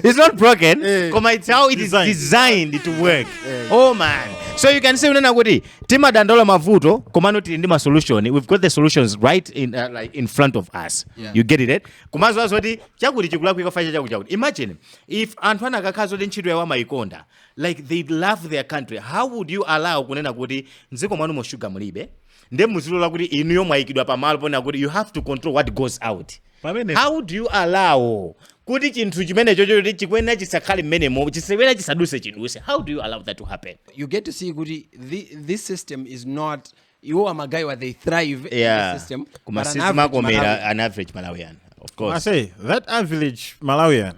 it's not broken Eh. koma it's how it is Designed. designed to work oh man so you can say unena kuti timadandaula mavuto komano tili ndi masolution we've got the solutions right in, uh, like in front of us Yeah. you get it eh? kumaziwa zoti chakuti chikulakwika apa cha chakuti chakuti imagine if anthu anakakhala zoti ntchito yawo amayikonda like they love their country how would you allow kunena kuti mdziko mwanumo sugar mulibe nde muzilola kuti inuyo mwayikidwa pamalo ponena kuti you have to control what goes out pamene how do you allow kuti chinthu chimenecho choti chikuyenera chisakhale mmenemo chikuyenera chisaduse chiduse how do you allow that to happen you get to see kuti thi, this system is not iwo magayiwa they thrive in yeah the system koma but an average sizimakomera Malawi- an average malawian of course ase that average malawian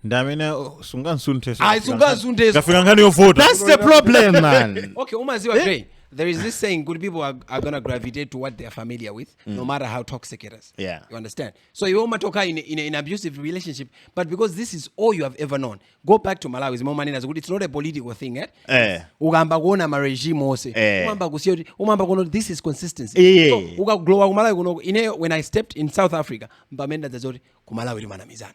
ndi amene sungansunthe Ayi, sungansunthe. kafika nkhani yovuta That's the problem, man. okay umaziwa Gray, there is this saying kuti people are, are gonna gravitate to what they are familiar with no matter how toxic it is Yeah. you understand so you umatoka in, a- in, a- in abusive relationship but because this is all you have ever known go back to malawi zimomanena zokuti it's not a political thing eh? Eh. ukayamba kuona maregime ose Eh. umamba kusiya kuti umamba kuona kuti this is consistency Eh. so, ukangolowa kumalawi kunoko ineyo when i stepped in south africa mpamene ndadzaona kuti kumalawi timanamizana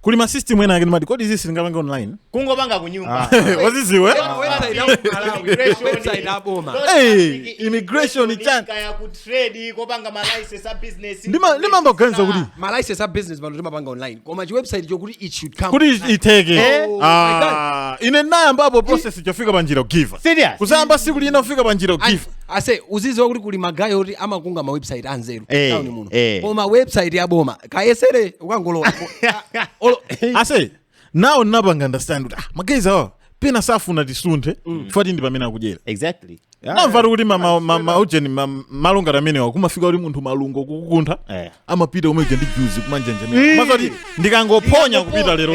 kuli ma system ena ake ndimati kodi izi silingapange online kungopanga kunyumba uziziwa Koma website ya Malawi, Immigration. website ya boma. Not Hey, like immigration ni chani? kaya ku trade kopanga ma license a business Ndima- ndimamba kuganiza kuti ma license a business pano timapanga online koma chiwebsite chokuti it should come kuti iteke Oh, Ah, ine nayambapo process chofika pa njira kugiva up Serious? kuzayamba siku lina kufika pa njira And- kugiva up ase uziziwa kuti kuli magayi oti amakunga ma website anzeru Eh, town muno eh. koma website ya boma kayesere ukangolowa Olo- ase nawo ndinapanga understand kuti ah, magayizi awa pena safuna tisunthe chifukwa choti ndi pamene akudyera exactly namvatu kuti ma- ma- ma- ma- ujeni ma- malungo amenewa kumafika kuti munthu malungo kukukuntha Eh. amapita uvale ndi juzi kumanjenjemera umaziti ndikangophonya kupita lero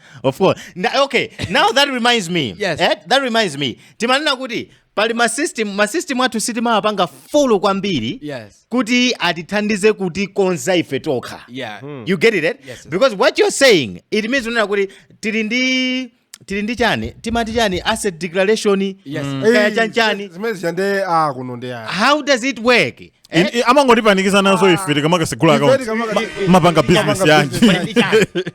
of course Na- okay now that reminds me Yes. eh, that reminds me timanena kuti pali masystem masystem athu sitimawapanga follow kwambiri Yes. kuti atithandize kutikonza ife tokha Yeah. you get it eh? Yes. because what you're saying it means unena kuti tili ndi tili ndi chani timati chani asset declaration Yes. kaya chanchani zimene zija nde a kuno nde a how does it work Eh? I- i- amangotipanikiza nazo ife tikamakasegula Ife akaunti tikamaka- Ma- mapanga bizinesi yanji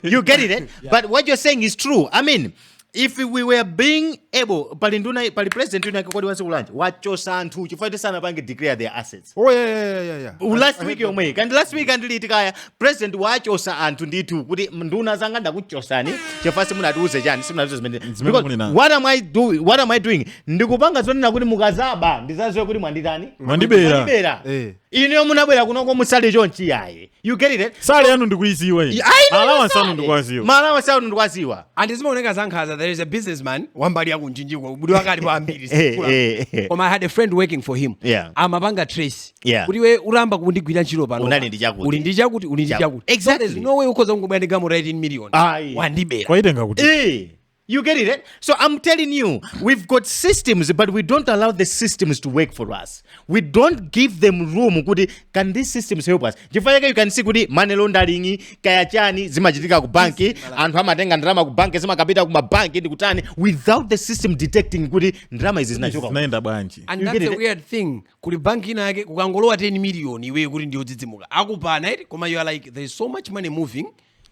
you get it eh? but what you're saying is true i mean if we were being able pali nduna pali president yuna kodi wasikulanje wachosa anthu chifukwa tisanapange declare their assets Oh, yeah, yeah, yeah, yeah, yeah. last week yomweyi kandi last week andiliti kaya president wachosa anthu ndithu kuti nduna zanga ndakuchosani chifukwa simunatiuze chani simunatiuze zimene Zimene Because munena. what am I doing what am I doing ndikupanga zonena kuti mukazaba ndizaziwe kuti mwanditani Mwandibera. mwandibera Eh. ineyo munabwera kunoko musali chonchi yaye you get it salary yanu ndikuiziwa iyi allowance anu ndikuwaziwa ma allowance anu ndikwaziwa and zimaoneka zankhaza there is a businessman wambali yakunjinji kwa ubwino wake pa ambiri Eh, eh, eh. koma i had a friend working for him Yeah. amapanga trace yeah. kuti iwe uyamba kundigwira ntchito pano unali ndi chakuti uli ndi chakuti uli ndi chakuti exactly. so there's no way ukhoza kungobwera ndi galimoto ya 18 million wandibera waitenga kuti eh. You get it? Eh? So I'm telling you, we've got systems, but we don't allow the systems to work for us. We don't give them room. Kuti, can these systems help us? Chifukwa you can see kuti money laundering, kaya chani, zimachitika ku banki, anthu amatenga ndalama ku banki, zimakapita ku mabanki ndi kutani, without the system detecting kuti ndalama izi zinachoka. Zinaenda bwanji. And that's the eh? weird thing. kuli banki ina yake mukangolowa 10 miliyoni iweyo kuti ndiyodzidzimuka akupana eti koma you are like there is so much money moving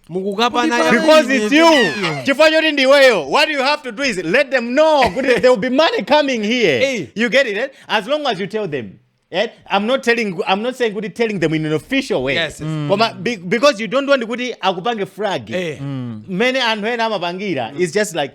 mukukapana Kuli because it's you chifukwa choti ndiweyo what you have to do is let them know kuti there will be money coming here Hey. you get it eh? as long as you tell them eh? I'm not telling I'm not saying kuti telling them in an official way Yes, yes. Mm. koma be, because you don't want kuti akupange flag Eh. mene anthu ena amapangira it's just like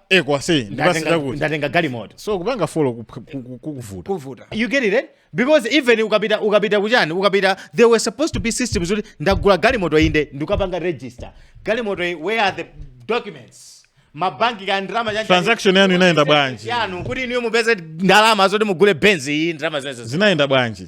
ekwase ndimpatse ndatenga chakuti ndatenga galimoto so kupanga follow ku- ku- ku- kukuvuta kuvuta you get it eh? because even ukapita ukapita kuchani ukapita there were supposed to be systems kuti ndagula galimoto inde ndikapanga register galimoto iyi, where are the documents mabanki ka ndalama chanji- Transaction yanu inayenda bwanji? yanu kuti inuyo mupeze ndalama zoti mugule benzi iyi ndalama zimenezo zinayenda bwanji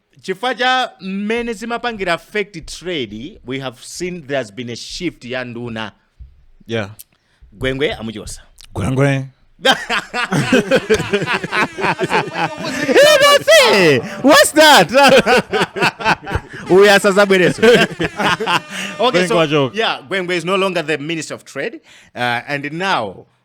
chifukwa cha mmene zimapangira affect trade we have seen there has been a shift ya nduna yeah gwengwe amuchosa gwengwe Hey, what's that uyu asazabwereso okay, Gwengwe so, wachoka. yeah gwengwe is no longer the minister of trade uh, and now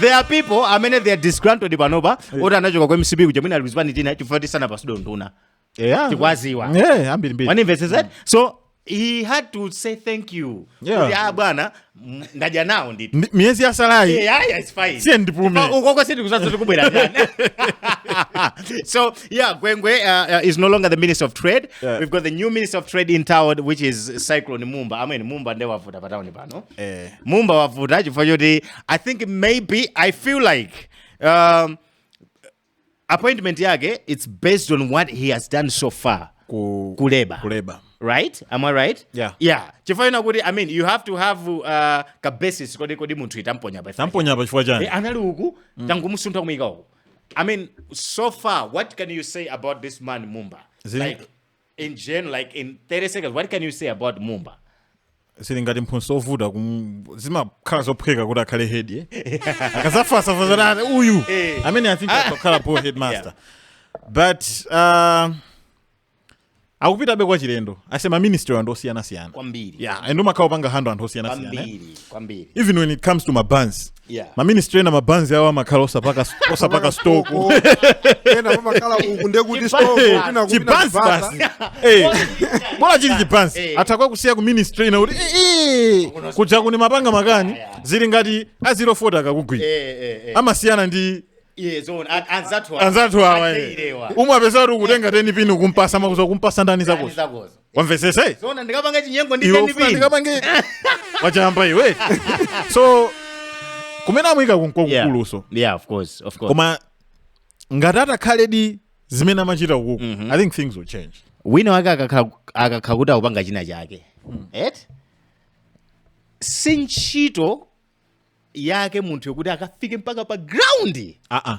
there are people amene they are disgruntled panopa oti anachoka ku mcp kuja mwina ali kuzipani tina chifukwa choti sanapatsidwe unduna Yeah. tikwaziwa Yeah, ambiri mbiri. wandimvetsetsa so he had to say thank you Yeah. kuti ah bwana m- ndadya nawo ndithu Ndi- Miyezi yatsalayi. Yeah, yeah, it's fine. Siyeni ndipume. Oh, ukoko sindi kuziwa zoti kubwera ndani. so yeah gwengwe uh, uh, is no longer the minister of trade Yeah. we've got the new minister of trade in town which is cyclone mumba amene mumba nde wavuta pa town pano Eh. mumba wavuta chifukwa choti i think maybe i feel like um, appointment yake it's based on what he has done so far ku, kuleba kuleba right am i right yeah yeah chifukwa kuti i mean you have to have uh, ka basis kodi kodi munthu itamponya pa tamponya pa chifukwa chani eh, anali uku mm. tangumusuntha kumuyika uku i mean so far what can you say about this man mumba Zin like in gen like in 30 seconds what can you say about mumba zili ngati mphunzitsi ovuta kum- zimakhala zophweka kuti akhale head eh? akazafa uyu Eh. I mean I think Ah. akakhala po headmaster but uh, akupitabe kwa chilendo asee maministry anthu osiyanasiyana kwambiri yeah and umakhala ukupanga handle anthu osiyanasiyana eh? kwambiri kwambiri even when it comes to mabanzi yeah. maministry ena mabanzi awo amakhala osapaka osapaka stock ena pamakhala uku ndekuti stoko kwina chibanzi basi Eh, bola chili chibanzi Eh. atha kukakusiya ku ministry ina kuti "Eh, eh, Kuno- kudza kuno umapanga makani Yeah, yeah. zili ngati azilofota akakugwira Eh, eh, eh. amasiyana ndi Iye zoona, an- anzathu awa. anzathu awa Ake ilewa. pomwe upeza kuti ukutenga 10 pini kumpasa makuza kumpasa ndani Ndani zakozo zakozo. wamvetsetsa eh? zoona ndikapanga chinyengo ndi iwe ufuna ka 10 pini ndikapange wachamba iwe so kumene amuyika nkokukulutso yeah of course of course koma ngati atakhaledi zimene amachita ukuku i think things will change wina wake akakha- akakha kuti akupanga china chake et si ntchito yake munthu yokuti akafike mpaka pa ground aa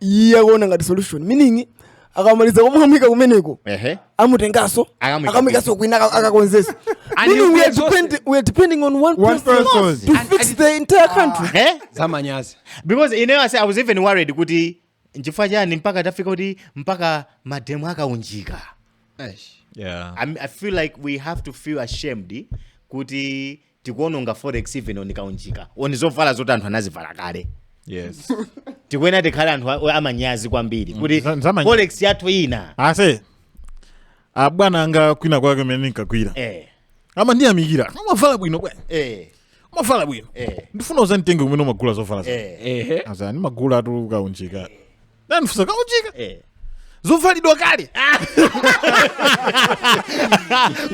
iye akuona ngati solution meaning akamaliza kumwamika kumeneko ehe amutengaso Akamwika akamwikaso kwina aka- akakonzesa And meaning you'll we be are, exhausted. depend, we are depending on one, One person, person. to And- fix and- the entire country eh zamanyazi because ineyo ase i was even worried kuti nchifukwa chani mpaka tafika kuti mpaka mademo akaunjika Eish. yeah I, mean, I feel like we have to feel ashamed kuti tikuononga forex even on kaunjika on zovala zoti anthu anazivala kale yes tikuyenera tikhale anthu a- amanyazi kwambiri kuti za- zamanyazi. forex yathu ina asee abwana anga kwina kwake mmene ndinkagwira eh, amandiyamikira umavala bwino bwana eh, umavala bwino eh, ndifuna uzanditenge kumene umagula zovala za eh. ehe asa ndimagulatu kaunjika anandifunsa kaunjika Eh. zovalidwa kale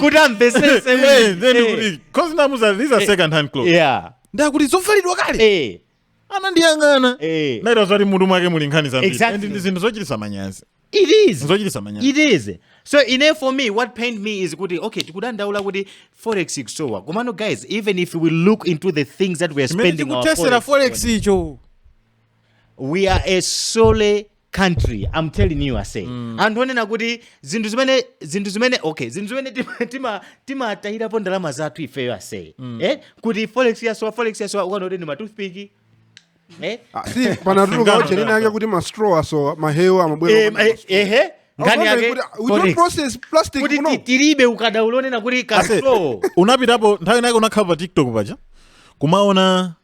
kuti amvetsetse Eh, then kuti- 'cause ndinamuuza these are second hand clothes yeah ndati zovalidwa kale eh anandiyang'ana eh naita zoti mutu mwake muli nkhani zambiri Exactly. And ndi zinthu zochitisa manyazi it is zochitisa manyazi it is so ine for me what pained me is kuti okay tikudandaula kuti forex ikusowa komano guys even if we look into the things that we are Chimene spending our chikuthetsera forex forex icho we are a sorry country i'm telling you asee mm. anthu onena kuti zinthu zimene zinthu zimene okay zinthu zimene timatayirapo ndalama zathu ifeyo asee mm. eh? kuti forex yasowa forex yasowa ukaona kuti ndi matoothpick eh? ah, panatuluka uchenene yake kuti mastraw asowa mahewu amabwera eh, eh, eh, nkhani yake kuti tilibe ukadaulo onena kuti kaso unapitapo nthawi inake unakhalapo pa tiktok paja kumaona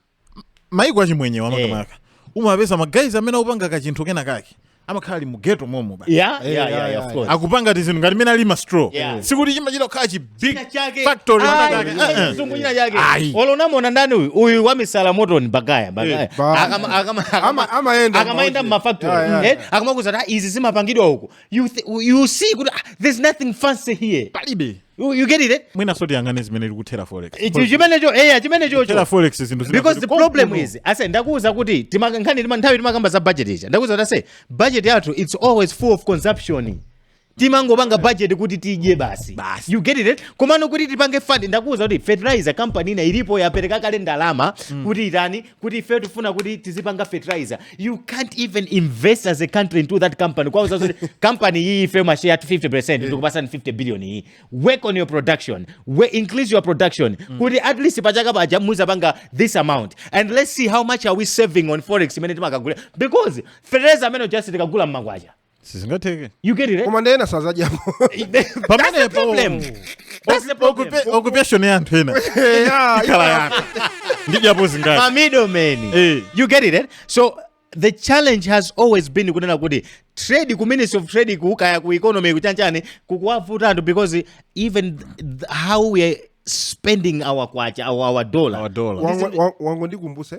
maiko achimwenyewa eh. makamaka umapeza magayizi amene akupanga kachinthu kena kake amakhala ali mughetto momo akupanga tizinthu ngati mmene alili mastraw sikuti chimachita kukhala chibig factory cholonamona ndani uyu uyu wamisala motoni bagaya eh, akamayenda mmafactory eh, akamakuuza kuti ah, izi zimapangidwa uku you, you see kuti ah, there's nothing fancy here palibe You, you get it eh? mwina so tiyang'ane zimene ikuthera forex chimenecho eya chimenecho ithera forex zinthu because the problem is ase ndakuwuza kuti nthawi timakamba za budget ija ndakuwuza kuti ase budget yathu it's always full of consumption timangopanga budget kuti tidye basi you get it eh? komano kuti tipange fund ndakuwuza kuti fertilizer company ina ilipo yapereka kale ndalama mm. kuti itani kuti ifeyo tifuna kuti tizipanga fertilizer you can't even invest as a country into that company kuwauza zoti company iyi ife mashare yathu 50 percent tikupasani 50 billion iyi work on your production we increase your production mm. kuti at least pachaka paja muzapanga this amount and let's see how much are we saving on forex imene timakagula because fertilizer ameneyu sitikagula mmakwacha sizingatheke you get it eh? koma nde ena sazadyapo pamenepo problem. That's the problem. occupation ya anthu ena ikhala ya kungodyapo zingati ma middlemen Eh. you get it eh? so the challenge has always been kunena kuti trade ku ministry of trade kukaya ku economy kuchanchani kukuwavuta anthu because even th- th- how we are spending our kwacha our, our dollar Our dollar. Wango- wa- wangondikumbusa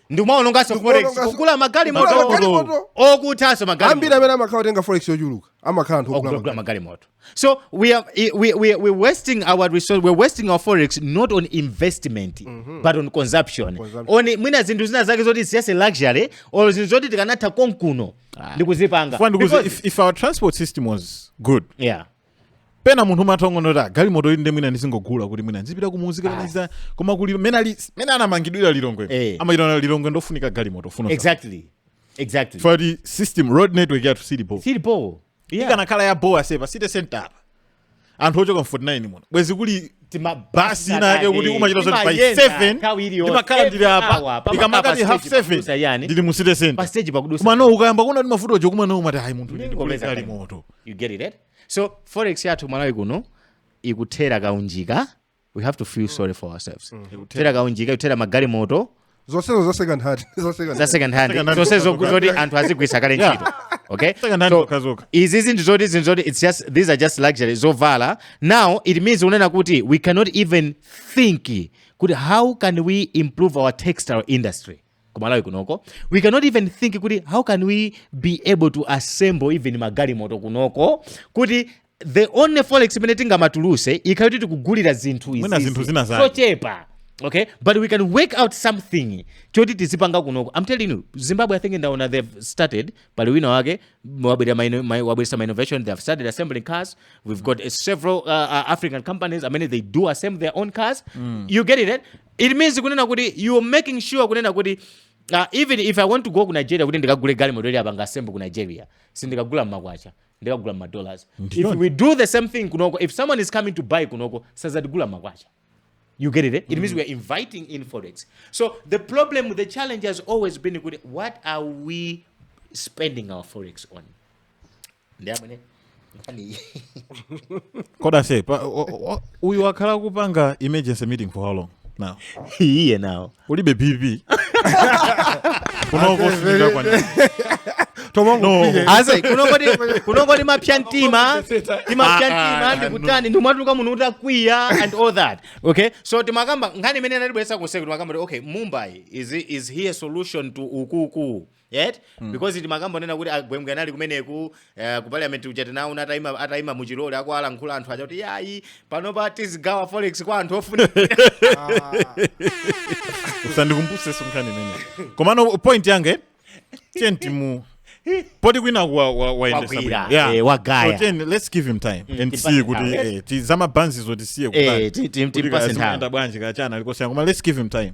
ndikumaononganso forex Ndikumaononganso- kugula magalimoto Kugula magalimoto. okuthanso ambiri magalimoto amene amakhala otenga forex yochuluka amakhala anthu ogula akugula magalimoto so we are i- we, we, we're wasting our resource we're wasting our forex not on investment but on consumption Consumption. on mwina zinthu zina zake zoti ndi za luxury or zinthu zoti tikanatha konkuno ndikuzipanga because Because- if, if our transport system was good, yeah pena munthu umatha kungoona kuti galimoto ili ndemwina ndizingogula kuti mwina ndizipita kumudzi kukanika koma kuli mmene ali mmene anamangidwira lilongwe eh. amachita lilongwe ndofunika galimoto yomwe exactly exactly ndiye the system road network yathu sili bho sili bho yeah. ikanakhala ya bho ase pa city center anthu ochoka mu 49 muno bwezi kuli basi inake yoti umadziwa zoti by 7 ndimakhala ndili apa ndikamakati half 7 ndili mu city center komano ukayamba kuona kuti mavuto otero komano umati ayi munthu ndigule galimoto you get it, eh? so forex yathu malawi kuno ikuthera kaunjika we have to feel sorry for ourselves ikuthera kaunjika ikuthera magalimoto zonsezo za second hand za second za hand. second hand Second hand zonse zokuti zoti anthu azigwiritsa kale Yeah. ntchito okay Second hand so zokhazokha. izi zinthu zoti zinthu zoti it's just these are just luxury zovala now it means kunena kuti we cannot even think kuti how can we improve our textile industry kumalawi kunoko we cannot even think kuti how can we be able to assemble even magalimoto kunoko kuti the only forex imene tingamatuluse ikhale kuti tikugulira zinthu Mwina izizi zinthu zina zake. zochepa okay but we can work out something choti tizipanga kunoko i'm telling you zimbabwe i think ndaona they've started pali wina wake wabwerera ma inno- ma- wabweretsa ma innovation they've started assembling cars we've got uh, several uh, uh, african companies i mean they do assemble their own cars you get it eh? It means kunena kuti you making sure kunena kuti Uh, even if I want to go ku Nigeria kuti ndikagule galimoto ili apanga assemble ku Nigeria sindikagula mmakwacha ndikagula mma dollars if we do the same thing kunoko if someone is coming to buy kunoko sazatigula mmakwacha You get it? Eh? It mm. means we are inviting in forex. So the problem, the challenge has always been what are we spending our forex on? ndi imene nkhani koda se pa- o- o- o- uyu wakhala kupanga emergency meeting for how long now iye naye alibe bp kunoko sinika kwanira tomangopile ase kunongoti kunongoti timapsa mtima timapsa mtima ndikutani ndimatuluka munthu utakwiya and all that okay so timakamba nkhani imene inatibweretsa konseku timakamba kuti okay mumba is, is here solution to ukuku yet because timakamba zonena kuti a Gwengwe anali kumeneku eh, ku parliament uja tinawaona atayima atayima mu Tchilole akuwalankhula anthu aja kuti yayi panopa tizigawa forex kwa anthu ofuna usandikumbuse za nkhani imene komano point yange tiyeni timu poti kwina wa- wa- wayendetsa Wagwira, bwino. Yeah. eh, wagaya. So tiye, let's give him time and see timpatse kuti nthawi. eh, ti- zamabanzizo tisiye Eh, ti- ti- timpatse nthawi. bwanji kachana alikosiyana koma let's give him time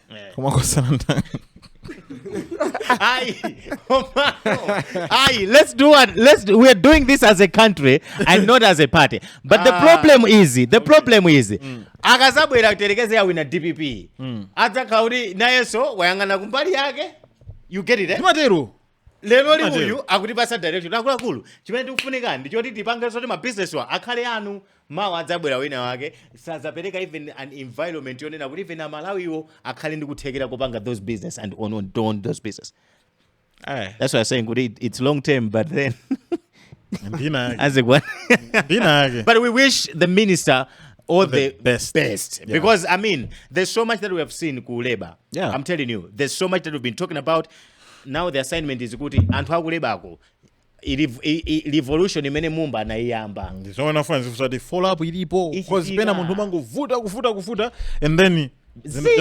Eh. koma kosanandani Aye, Omaro. Aye, let's do what let's do, we're doing this as a country and not as a party but the problem is the problem is akadzabwera kuyerekeza yawina dpp adzakhala kuti nayenso wayang'ana kumbali yake you get it eh? zimatero lero Zimatero. lili uyu akutipatsa direction akuluakulu chimene tikufunika ndi choti tipange zoti mabizinesiwa akhale anu mawa adzabwera wina wake sadzapereka even an environment yonena kuti even amalawiwo akhale ndi kuthekera kopanga those business and on, on, on those business Eh, that's why I'm saying kuti it- it's long term but then mbina yake as it were. mbina yake but we wish the minister all the, The best. best. Yeah. because i mean there's so much that we have seen ku labor Yeah. i'm telling you there's so much that we've been talking about now the assignment is kuti anthu aku labor ko revolution imene mumba anayiyamba ndizomwe ndimafuna zifunsa kuti follow up ilipo cause pena munthu umangovuta kuvuta kuvuta and then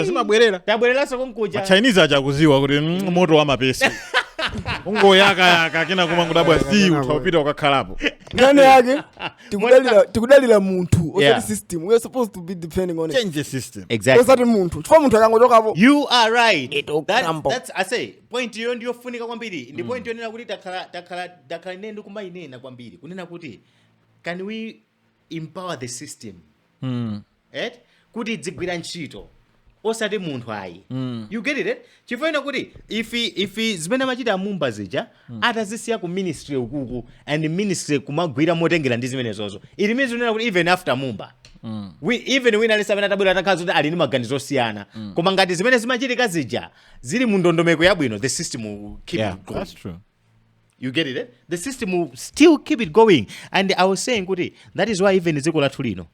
zimabwerera tabwereranso konkuja chinese aja akudziwa kuti mm, moto wa mapesi ungoyakayaka kenako kumangodabwa zi utapita ukakhalapo nkhani yake tikudalira tikudalira munthu osati Yeah. system we are supposed to be depending on eti change the system exactly osati munthu chifukwa munthu akangochokapo you are right It will That- crumble. that's- I say point iyo ndiyofunika kwambiri ndi point yonena kuti takhala takhala takhala ine ndikumayinena kwambiri kunena kuti can we empower the system eti kuti idzigwira ntchito osati munthu ayi Mm. you get it eh? chifukwa nena kuti if if zimene amachita amumba zija atazisiya ku ministry ukuku and ministry kumagwira motengera ndi zimenezozo it means kunena kuti even after mumba Mm. we, even wina aliyense amene atabwera atakhala zoti ali ndi maganizo osiyana koma ngati zimene zimachitika zija zili mu ndondomeko yabwino the system will keep Yeah, it going that's true. you get it eh? the system will still keep it going and i was saying kuti that is why even dziko lathu lino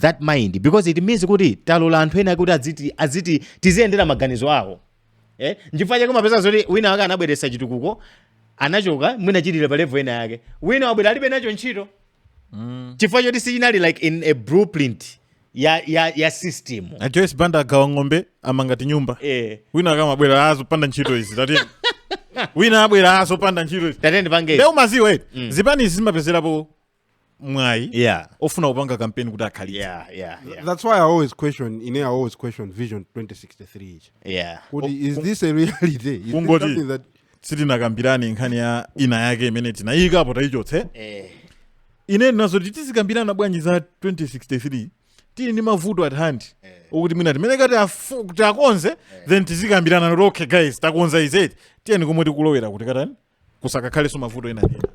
that mind because it means kuti talola anthu ena kuti adziti adziti tiziyendera maganizo awo eh nchifukwa chake mapeza zoti wina wake anabweretsa chitukuko anachoka mwina chili pa level ena yake wina wabwera alibe nacho ntchito mm. chifukwa choti sichinali like in a blueprint ya ya ya system a joyce banda agawa ng'ombe amanga nyumba eh wina akamabwera azopanda ntchito izi tati wina abwera azopanda ntchito izi tatende pange lero umaziwa mm. zipani izi zimapezerapo mwayi yeah ofuna kupanga kampeni kuti akhalitse yeah yeah yeah that's why i always question ine i always question vision 2063 ichi yeah kuti is this a reality is this Kungoti- something that sitinakambirane nkhani ya ina yake imene tinayikapo tayichotse eh ine nazoti tizikambirana bwanji za 2063 tili ndi mavuto at hand okuti mwina timayenera kuti afu- kuti takonze then tizikambirana kuti okay guys takonza izi tiyeni komwe tikulowera kuti katani kusakakhalenso mavuto ena ndi ena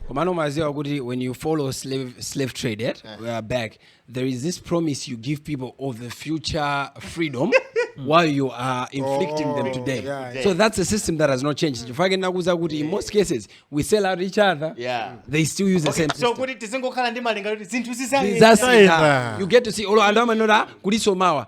komano umaziwa kuti when you follow slave, slave trade yeah we are back there is this promise you give people of the future freedom while you are inflicting them today yeah, yeah. so that's a system that has not changed chifukwa chake ndinakuuza kuti in most cases we sell out each other Yeah. they still use the same system so kuti tizingokhala ndi malingaliro kuti zinthu zizayenda That's it, Zayenda. ah. you get to see olo anthu amanena kulinso mawa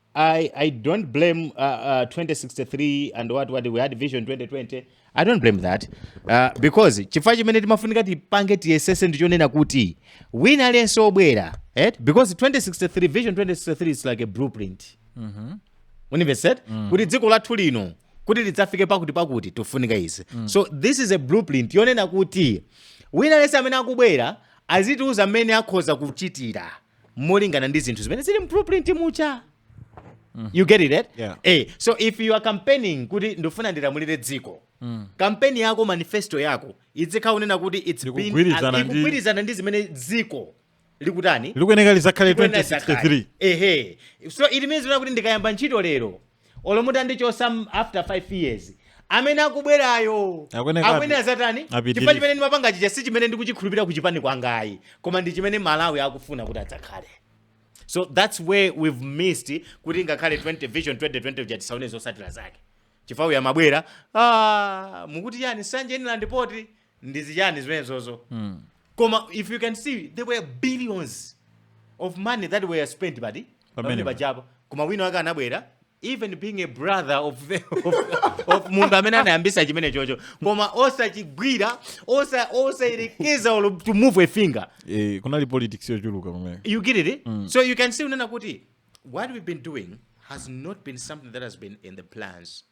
I, I don't blame uh, uh, 2063 and what, what we had vision 2020 i don't blame that uh, because chifukwa chimene timafunika tipange tiyesese ndichonena kuti wina aliyense obwera eh? because 2063 vision 2063 is like a blueprint mm -hmm. yonena mm -hmm. kuti dziko lathu lino kuti lidzafike pakuti pakuti tifunika izi mm. so this is a blueprint yonena kuti wina aliyense amene akubwera azitiuza mmene akhoza kuchitira molingana ndi zinthu zimene zili mu blueprint muja you get it right? Yeah. eh, so if you are campaigning kuti ndifuna ndilamulire dziko kampeni yako manifesto yako idzikhala yonena kuti it's been- Ikugwirizana ndi- ikugwirizana ndi zimene dziko likutani likuyeneka lizakhale Kuyenda zakale. 2063 ehe so it means kuti ndikayamba ntchito lero olo mutandichotsa m- after 5 years amene akubwerayo Akuyenekabe. akuyenera azatani Apitirire. chifukwa chimene ndimapanga chija si chimene ndikuchikhulupirira kuchipani kwangayi koma ndi chimene malawi akufuna kuti adzakhale so that's where we've missed kuti ngakhale 20 vision 2020 uja tisaone zotsatira zake chifukwa uyu amabwera ah, mukuti chani nsanje inland port ndizichani zimenezozo mm. koma if you can see there were billions of money that were spent pa port pamene pajapo koma wina wake anabwera even being a brother of, the, of, of munthu amene anayambisa chimene chocho koma osachigwira osayerekeza osa to move a finger eh, kunali politics yochuluka kumene you get it mm. so you can see kunena kuti what we've been doing has not been something that has been in the plans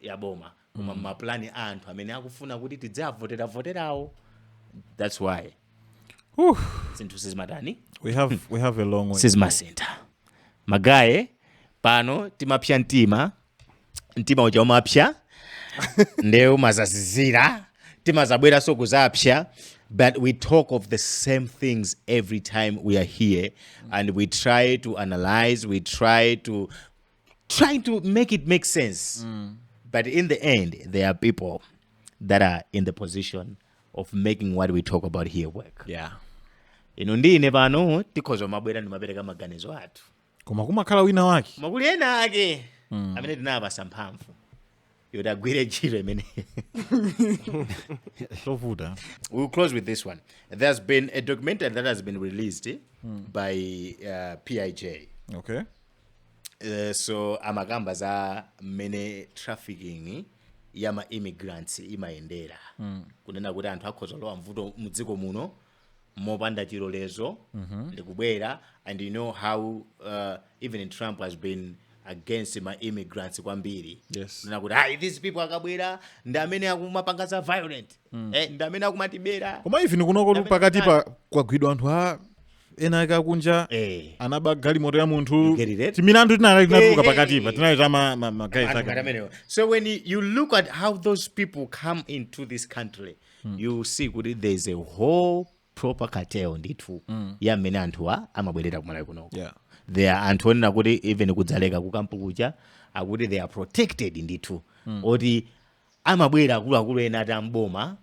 ya boma koma mmapulani a anthu amene akufuna kuti tidziavotera voterawo thats why Whew. zinthu sizimatani we have we have a long way sizimasintha magaye pano timapsya mtima mtima uja umapsya nde umazazizira timazabweranso kuzapsya but we talk of the same things every time we are here and we try to analyze we try to trying to make it make sense mm. but in the end there are people that are in the position of making what we talk about here work yeah iwe ndi ine pano tikhoza kumabwera ndikumapereka maganizo athu koma kumakhala wina wake koma kuli ena ake mm. amene tinawapatsa mphamvu yoti agwire ntchito imene tovuta we'll close with this one there's been a documentary that has been released mm. by uh, pij okay Eh, so amakamba za mmene trafficking ya ma immigrants imayendera mm. kunena kuti anthu akhoza kulowa mudziko muno mopanda chilolezo mm-hmm. ndikubwera and you know how uh, even trump has been against ma immigrants kwambiri Yes. kunena kuti "Ayi, these people akabwera ndi amene akumapanga za violent mm. eh, ndi amene akumatibera koma even kunoko pakatipa kwagwidwa anthu a ena ake akunja eh. anaba galimoto ya munthu timilandu tinatuluka pakatipa tinali ta magaye so when you look at how those people come into this country mm. you see kuti there is a whole proper cartel ndithu mm. ya mmene anthuwa amabwerera kumalawi kunoko yeah. there are anthu onena kuti even kudzaleka kukampu kuja akuti they are protected ndithu mm. oti amabwera akuluakulu ena ati a m'boma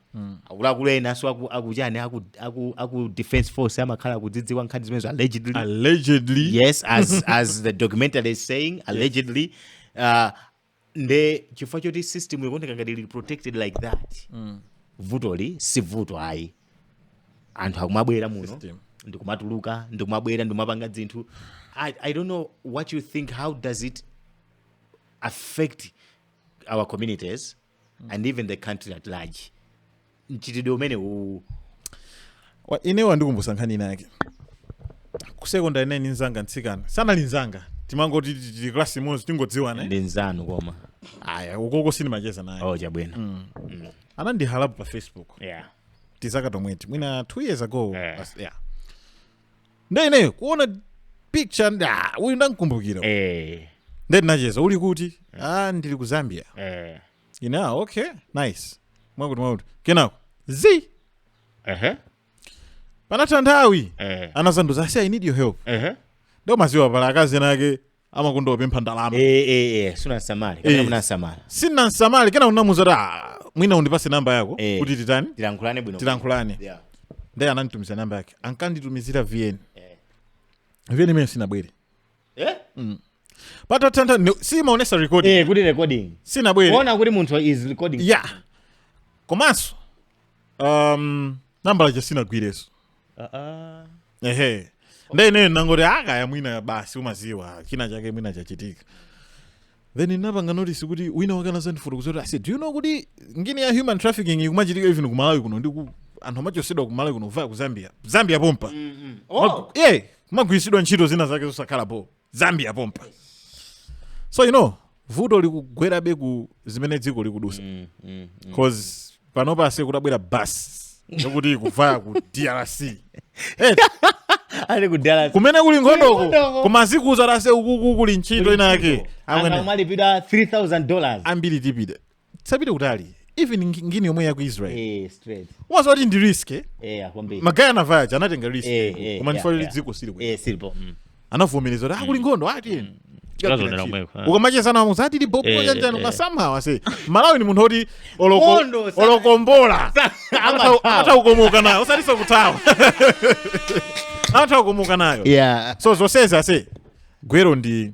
akuluakulu enanso aku- akuchani aku, aku, aku defense force amakhala akuzidziwa nkhani zimenezo allegedly allegedly yes as as the documentary is saying allegedly uh, nde chifukwa choti system ikuoneka ngati ili protected like that vutoli si vuto ayi anthu akumabwera muno ndikumatuluka ndikumabwera ndikumapanga zinthu I, i don't know what you think how does it affect our communities and even the country at large mchitidwe umene uwu Wa- ine wandikumbutsa nkhani inayake ku sekondari ineyo ndi nzanga mtsikana sanali nzanga timangoti ti- ti- klasi imodzi tingodziwana ndi nzanu koma ayi ukoko sindimacheza naye oh chabwino anandihalla po pa facebook yeah tizaka tomweti mwina two years ago Yeah. as- yeah. nde ineyo kuona picture ndati ah, uyu ndamkumbukira eh, nde ndinacheza uli kuti ah, ndili ku zambia eh, ine ah, okay nice mwakuti mwakuti kenako zi ehe, panatha nthawi eh, anazandiuza asi i need your help ehe, nde umadziwa pala akazi nake amakonda kupempha ndalama eh eh eh sunasamale Eh. kapena munasamala sinamsamale kena ndinamuuza kuti "Ah, mwina undipase namba yako Eh. kuti titani tilankhulane bwino tilankhulane yeah ndiye ananditumizira namba yake ankanditumizira vn Eh. vn imene sinabwere eh patatha nthawi ne- simaonesa recording eh kuti recording sinabwere kuona kuti munthu is recording ya komanso um, nambala ja sinagwirenso uh -uh. ehe nde ineyo ndinangoti akaya mwina basi umaziwa china chake mwina chachitika then ndinapanga notice kuti wina wake anazandifotokoza kuti ase do you know kuti ngini ya human trafficking ikumachitika even ku malawi kuno ndipo anthu amachosedwa ku malawi kuno via ku zambia zambia pompa mm -hmm. oh. yeah, kumagwiritsidwa ntchito zina zake zosakhala bo zambia pompa so you know vuto likugwerabe ku zimene dziko likudusa mm, mm, mm. cause panopa ase kutabwera bus yokuti ikuvaya ku drc eh, ali kudala kumene kuli nkhondoko Nkhondoko. koma zikuuza kuti ase ukuku kuli ntchito inayake amene amalipidwa 3000 dollars ambiri tipite tisapite kutali even ngi- ngini yomwe ya ku israel eh straight umaziwa kuti ndi risk eh? eh kwambiri magaya anavaya aja anatenga risk Eh, eh, koma yeah, ndifuna kuti yeah. dziko sili bwino eh sili bo mm. anavomereza kuti kuli nkhondo ati Tikazonera kumweko, ah. ukamacheza nawo amakuuza tili bobo Eh, chanjani eh. somehow ase mmalawi ni munthu oti oloko- Nkhondo, sa- olo kombola amathawa. atha kukomoka nayo osatinso kuthawa atha kukomoka nayo yeah so zonsezi ase gwero ndi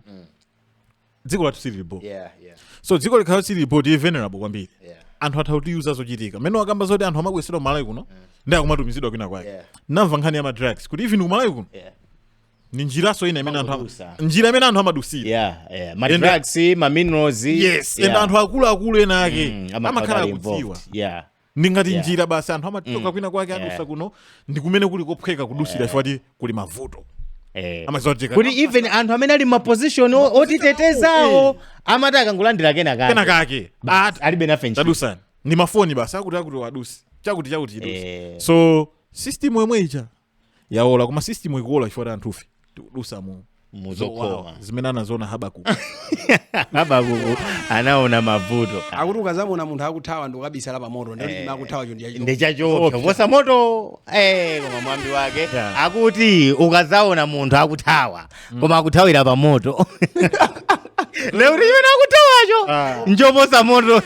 dziko lathu silili bo yeah, yeah. so dziko likakhala silili bo tili vulnerable kwambiri yeah. anthu atha kutiuza zochitika mmene wakamba zoti anthu amabwesedwa kumalawi kuno mm. ndi kumatumizidwa kwina kwake yeah. namva nkhani ya madrugs kuti even kumalawi kuno yeah ni njiranso ina imene anthu njira imene anthu amadusira yeah yeah ma drugs ma minerals yes yeah. and anthu akulu akulu ena ake mm, amakhala akudziwa yeah ndi ngati Yeah. njira basi anthu amachoka Mm. kwina kwake Yeah. adusa kuno ndi kumene kuli kophweka kudusira chifukwa choti kuli mavuto Eh. amadziwa kuti kuti tikati- even anthu amene ali mmaposition otitetezawo amati akangolandira kena kake kenakake Basi, alibe nafe ntchito. tadusani ndi mafoni basi akuti akuti aduse chakuti chakuti chiduse Eh. so system yomwe ija yaola koma system ikuola chifukwa choti anthufe tikudusa mu muzowawa zowawa zimene anaziona habakuku habakuku anaona mavuto akuti ukazamuona munthu akuthawa ndikukabisala pamoto ndiye chimene akuthawacho ndiye kuti ndi choopsa kuposa moto eh, koma mwambi wake Yeah. akuti ukazaona munthu akuthawa koma akuthawira pa moto nde kuti chimene akuthawacho Ah. n'choposa moto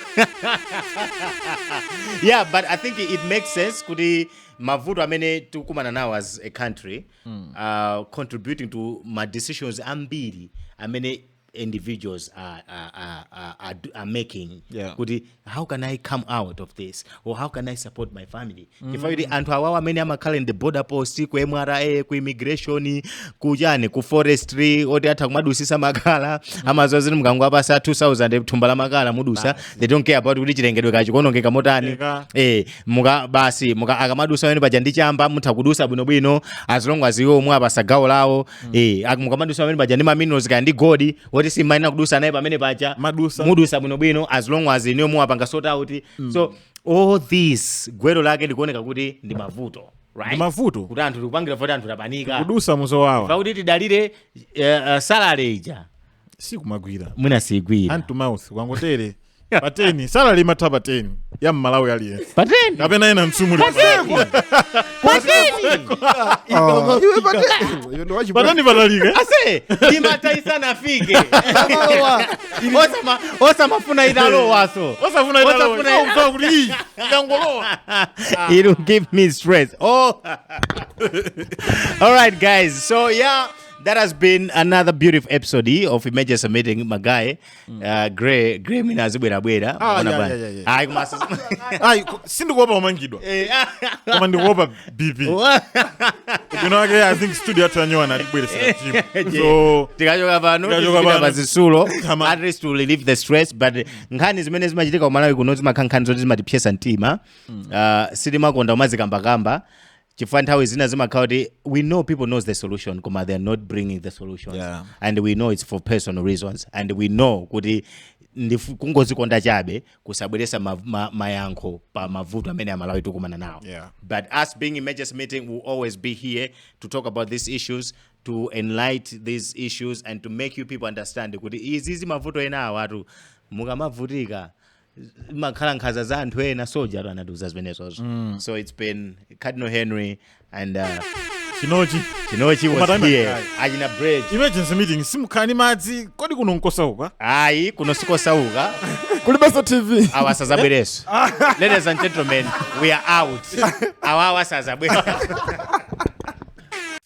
yeah but i think it makes sense kuti mavuto amene tikukumana nawo as a country mm. uh, contributing to ma decisions ambiri amene individuals are, are, are, are, are, are making yeah. kuti how can i come out of this or how can i support my family mm. chifukwa kuti anthu awawo amene amakhala in the border post ku mra ku immigration kuchani ku forestry oti atha kumadusisa makala mm. amaziwa zoti mukangowapasa 2000 thumba la makala mudusa they don't care about kuti chilengedwe kachikonongeka motani eh muka basi muka akamadusa pamene paja ndi chamba mutha kudusa bwinobwino as long as iwowo mwawapasa gawo lawo eh ak- mukamadusa pamene paja ndi maminerals kaya ndi gold woti simayenera kudusa naye pamene paja Mudusa. mudusa bwinobwino as long as inuyo mwawapanga sort out so all this gwero lake likuoneka kuti ndi mavuto right Ndi mavuto. kuti anthu likupangira voti anthu tapanika kudusa muzowawa poti kuti tidalire uh, salary ija sikumagwira mwina sigwira hand to mouth kwangotere pa 10 salary imatha pa 10 ya mmalawi aliyense pa 10 kapena ena msumuli Iwe pate. Iwe ndo wachi- pa 10 patalikilatu imata isanafike Osama- osamafuna italowaso osafuna Osafuna- italowa kuti iyi yangolowa It'll give me stress. Oh. All right, guys. So yeah. That has been another beautiful episode eh, of emergency meeting my guy. Mm. Uh, Gray Gray mwina azibwera bwera. Ah, yeah, yeah, yeah, yeah. Ai kumasuka. Ai sindikuopa kumangidwa. Eh. Koma ndikuopa BP. You know again I think studio yathu yanyowa na tibweresa eh, team. Eh, so tikachoka pano tikachoka pa zisulo at least to relieve the stress but nkhani zimene zimachitika ku Malawi kuno zimakhala nkhani zoti zimatipsesa mtima. Mm. Uh, sitimakonda kumazikamba kamba. kamba. chifukwa nthawi zina zimakhala kuti we know people knows the solution koma they are not bringing the solutions Yeah. and we know it's for personal reasons and we know kuti ndifu- kungozikonda chabe kusabweresa ma, ma, mayankho pa mavuto amene amalawi tikumana nawo Yeah. but as being emergency meeting will always be here to talk about these issues to enlighten these issues and to make you people understand kuti izi izi mavuto ena awatu mukamavutika imakhala nkhaza za anthu ena soja anatiuza zimenezozo mm. so it's been cardinal henry and uh, chinochi chinochi was Umatamba here kale. achina bridge emergency meeting simukhala ndi madzi kodi kuno nkosauka ayi kuno sikosauka kulibenso tv awa asazabwereso ladies and gentlemen we are out awa awa asazabwera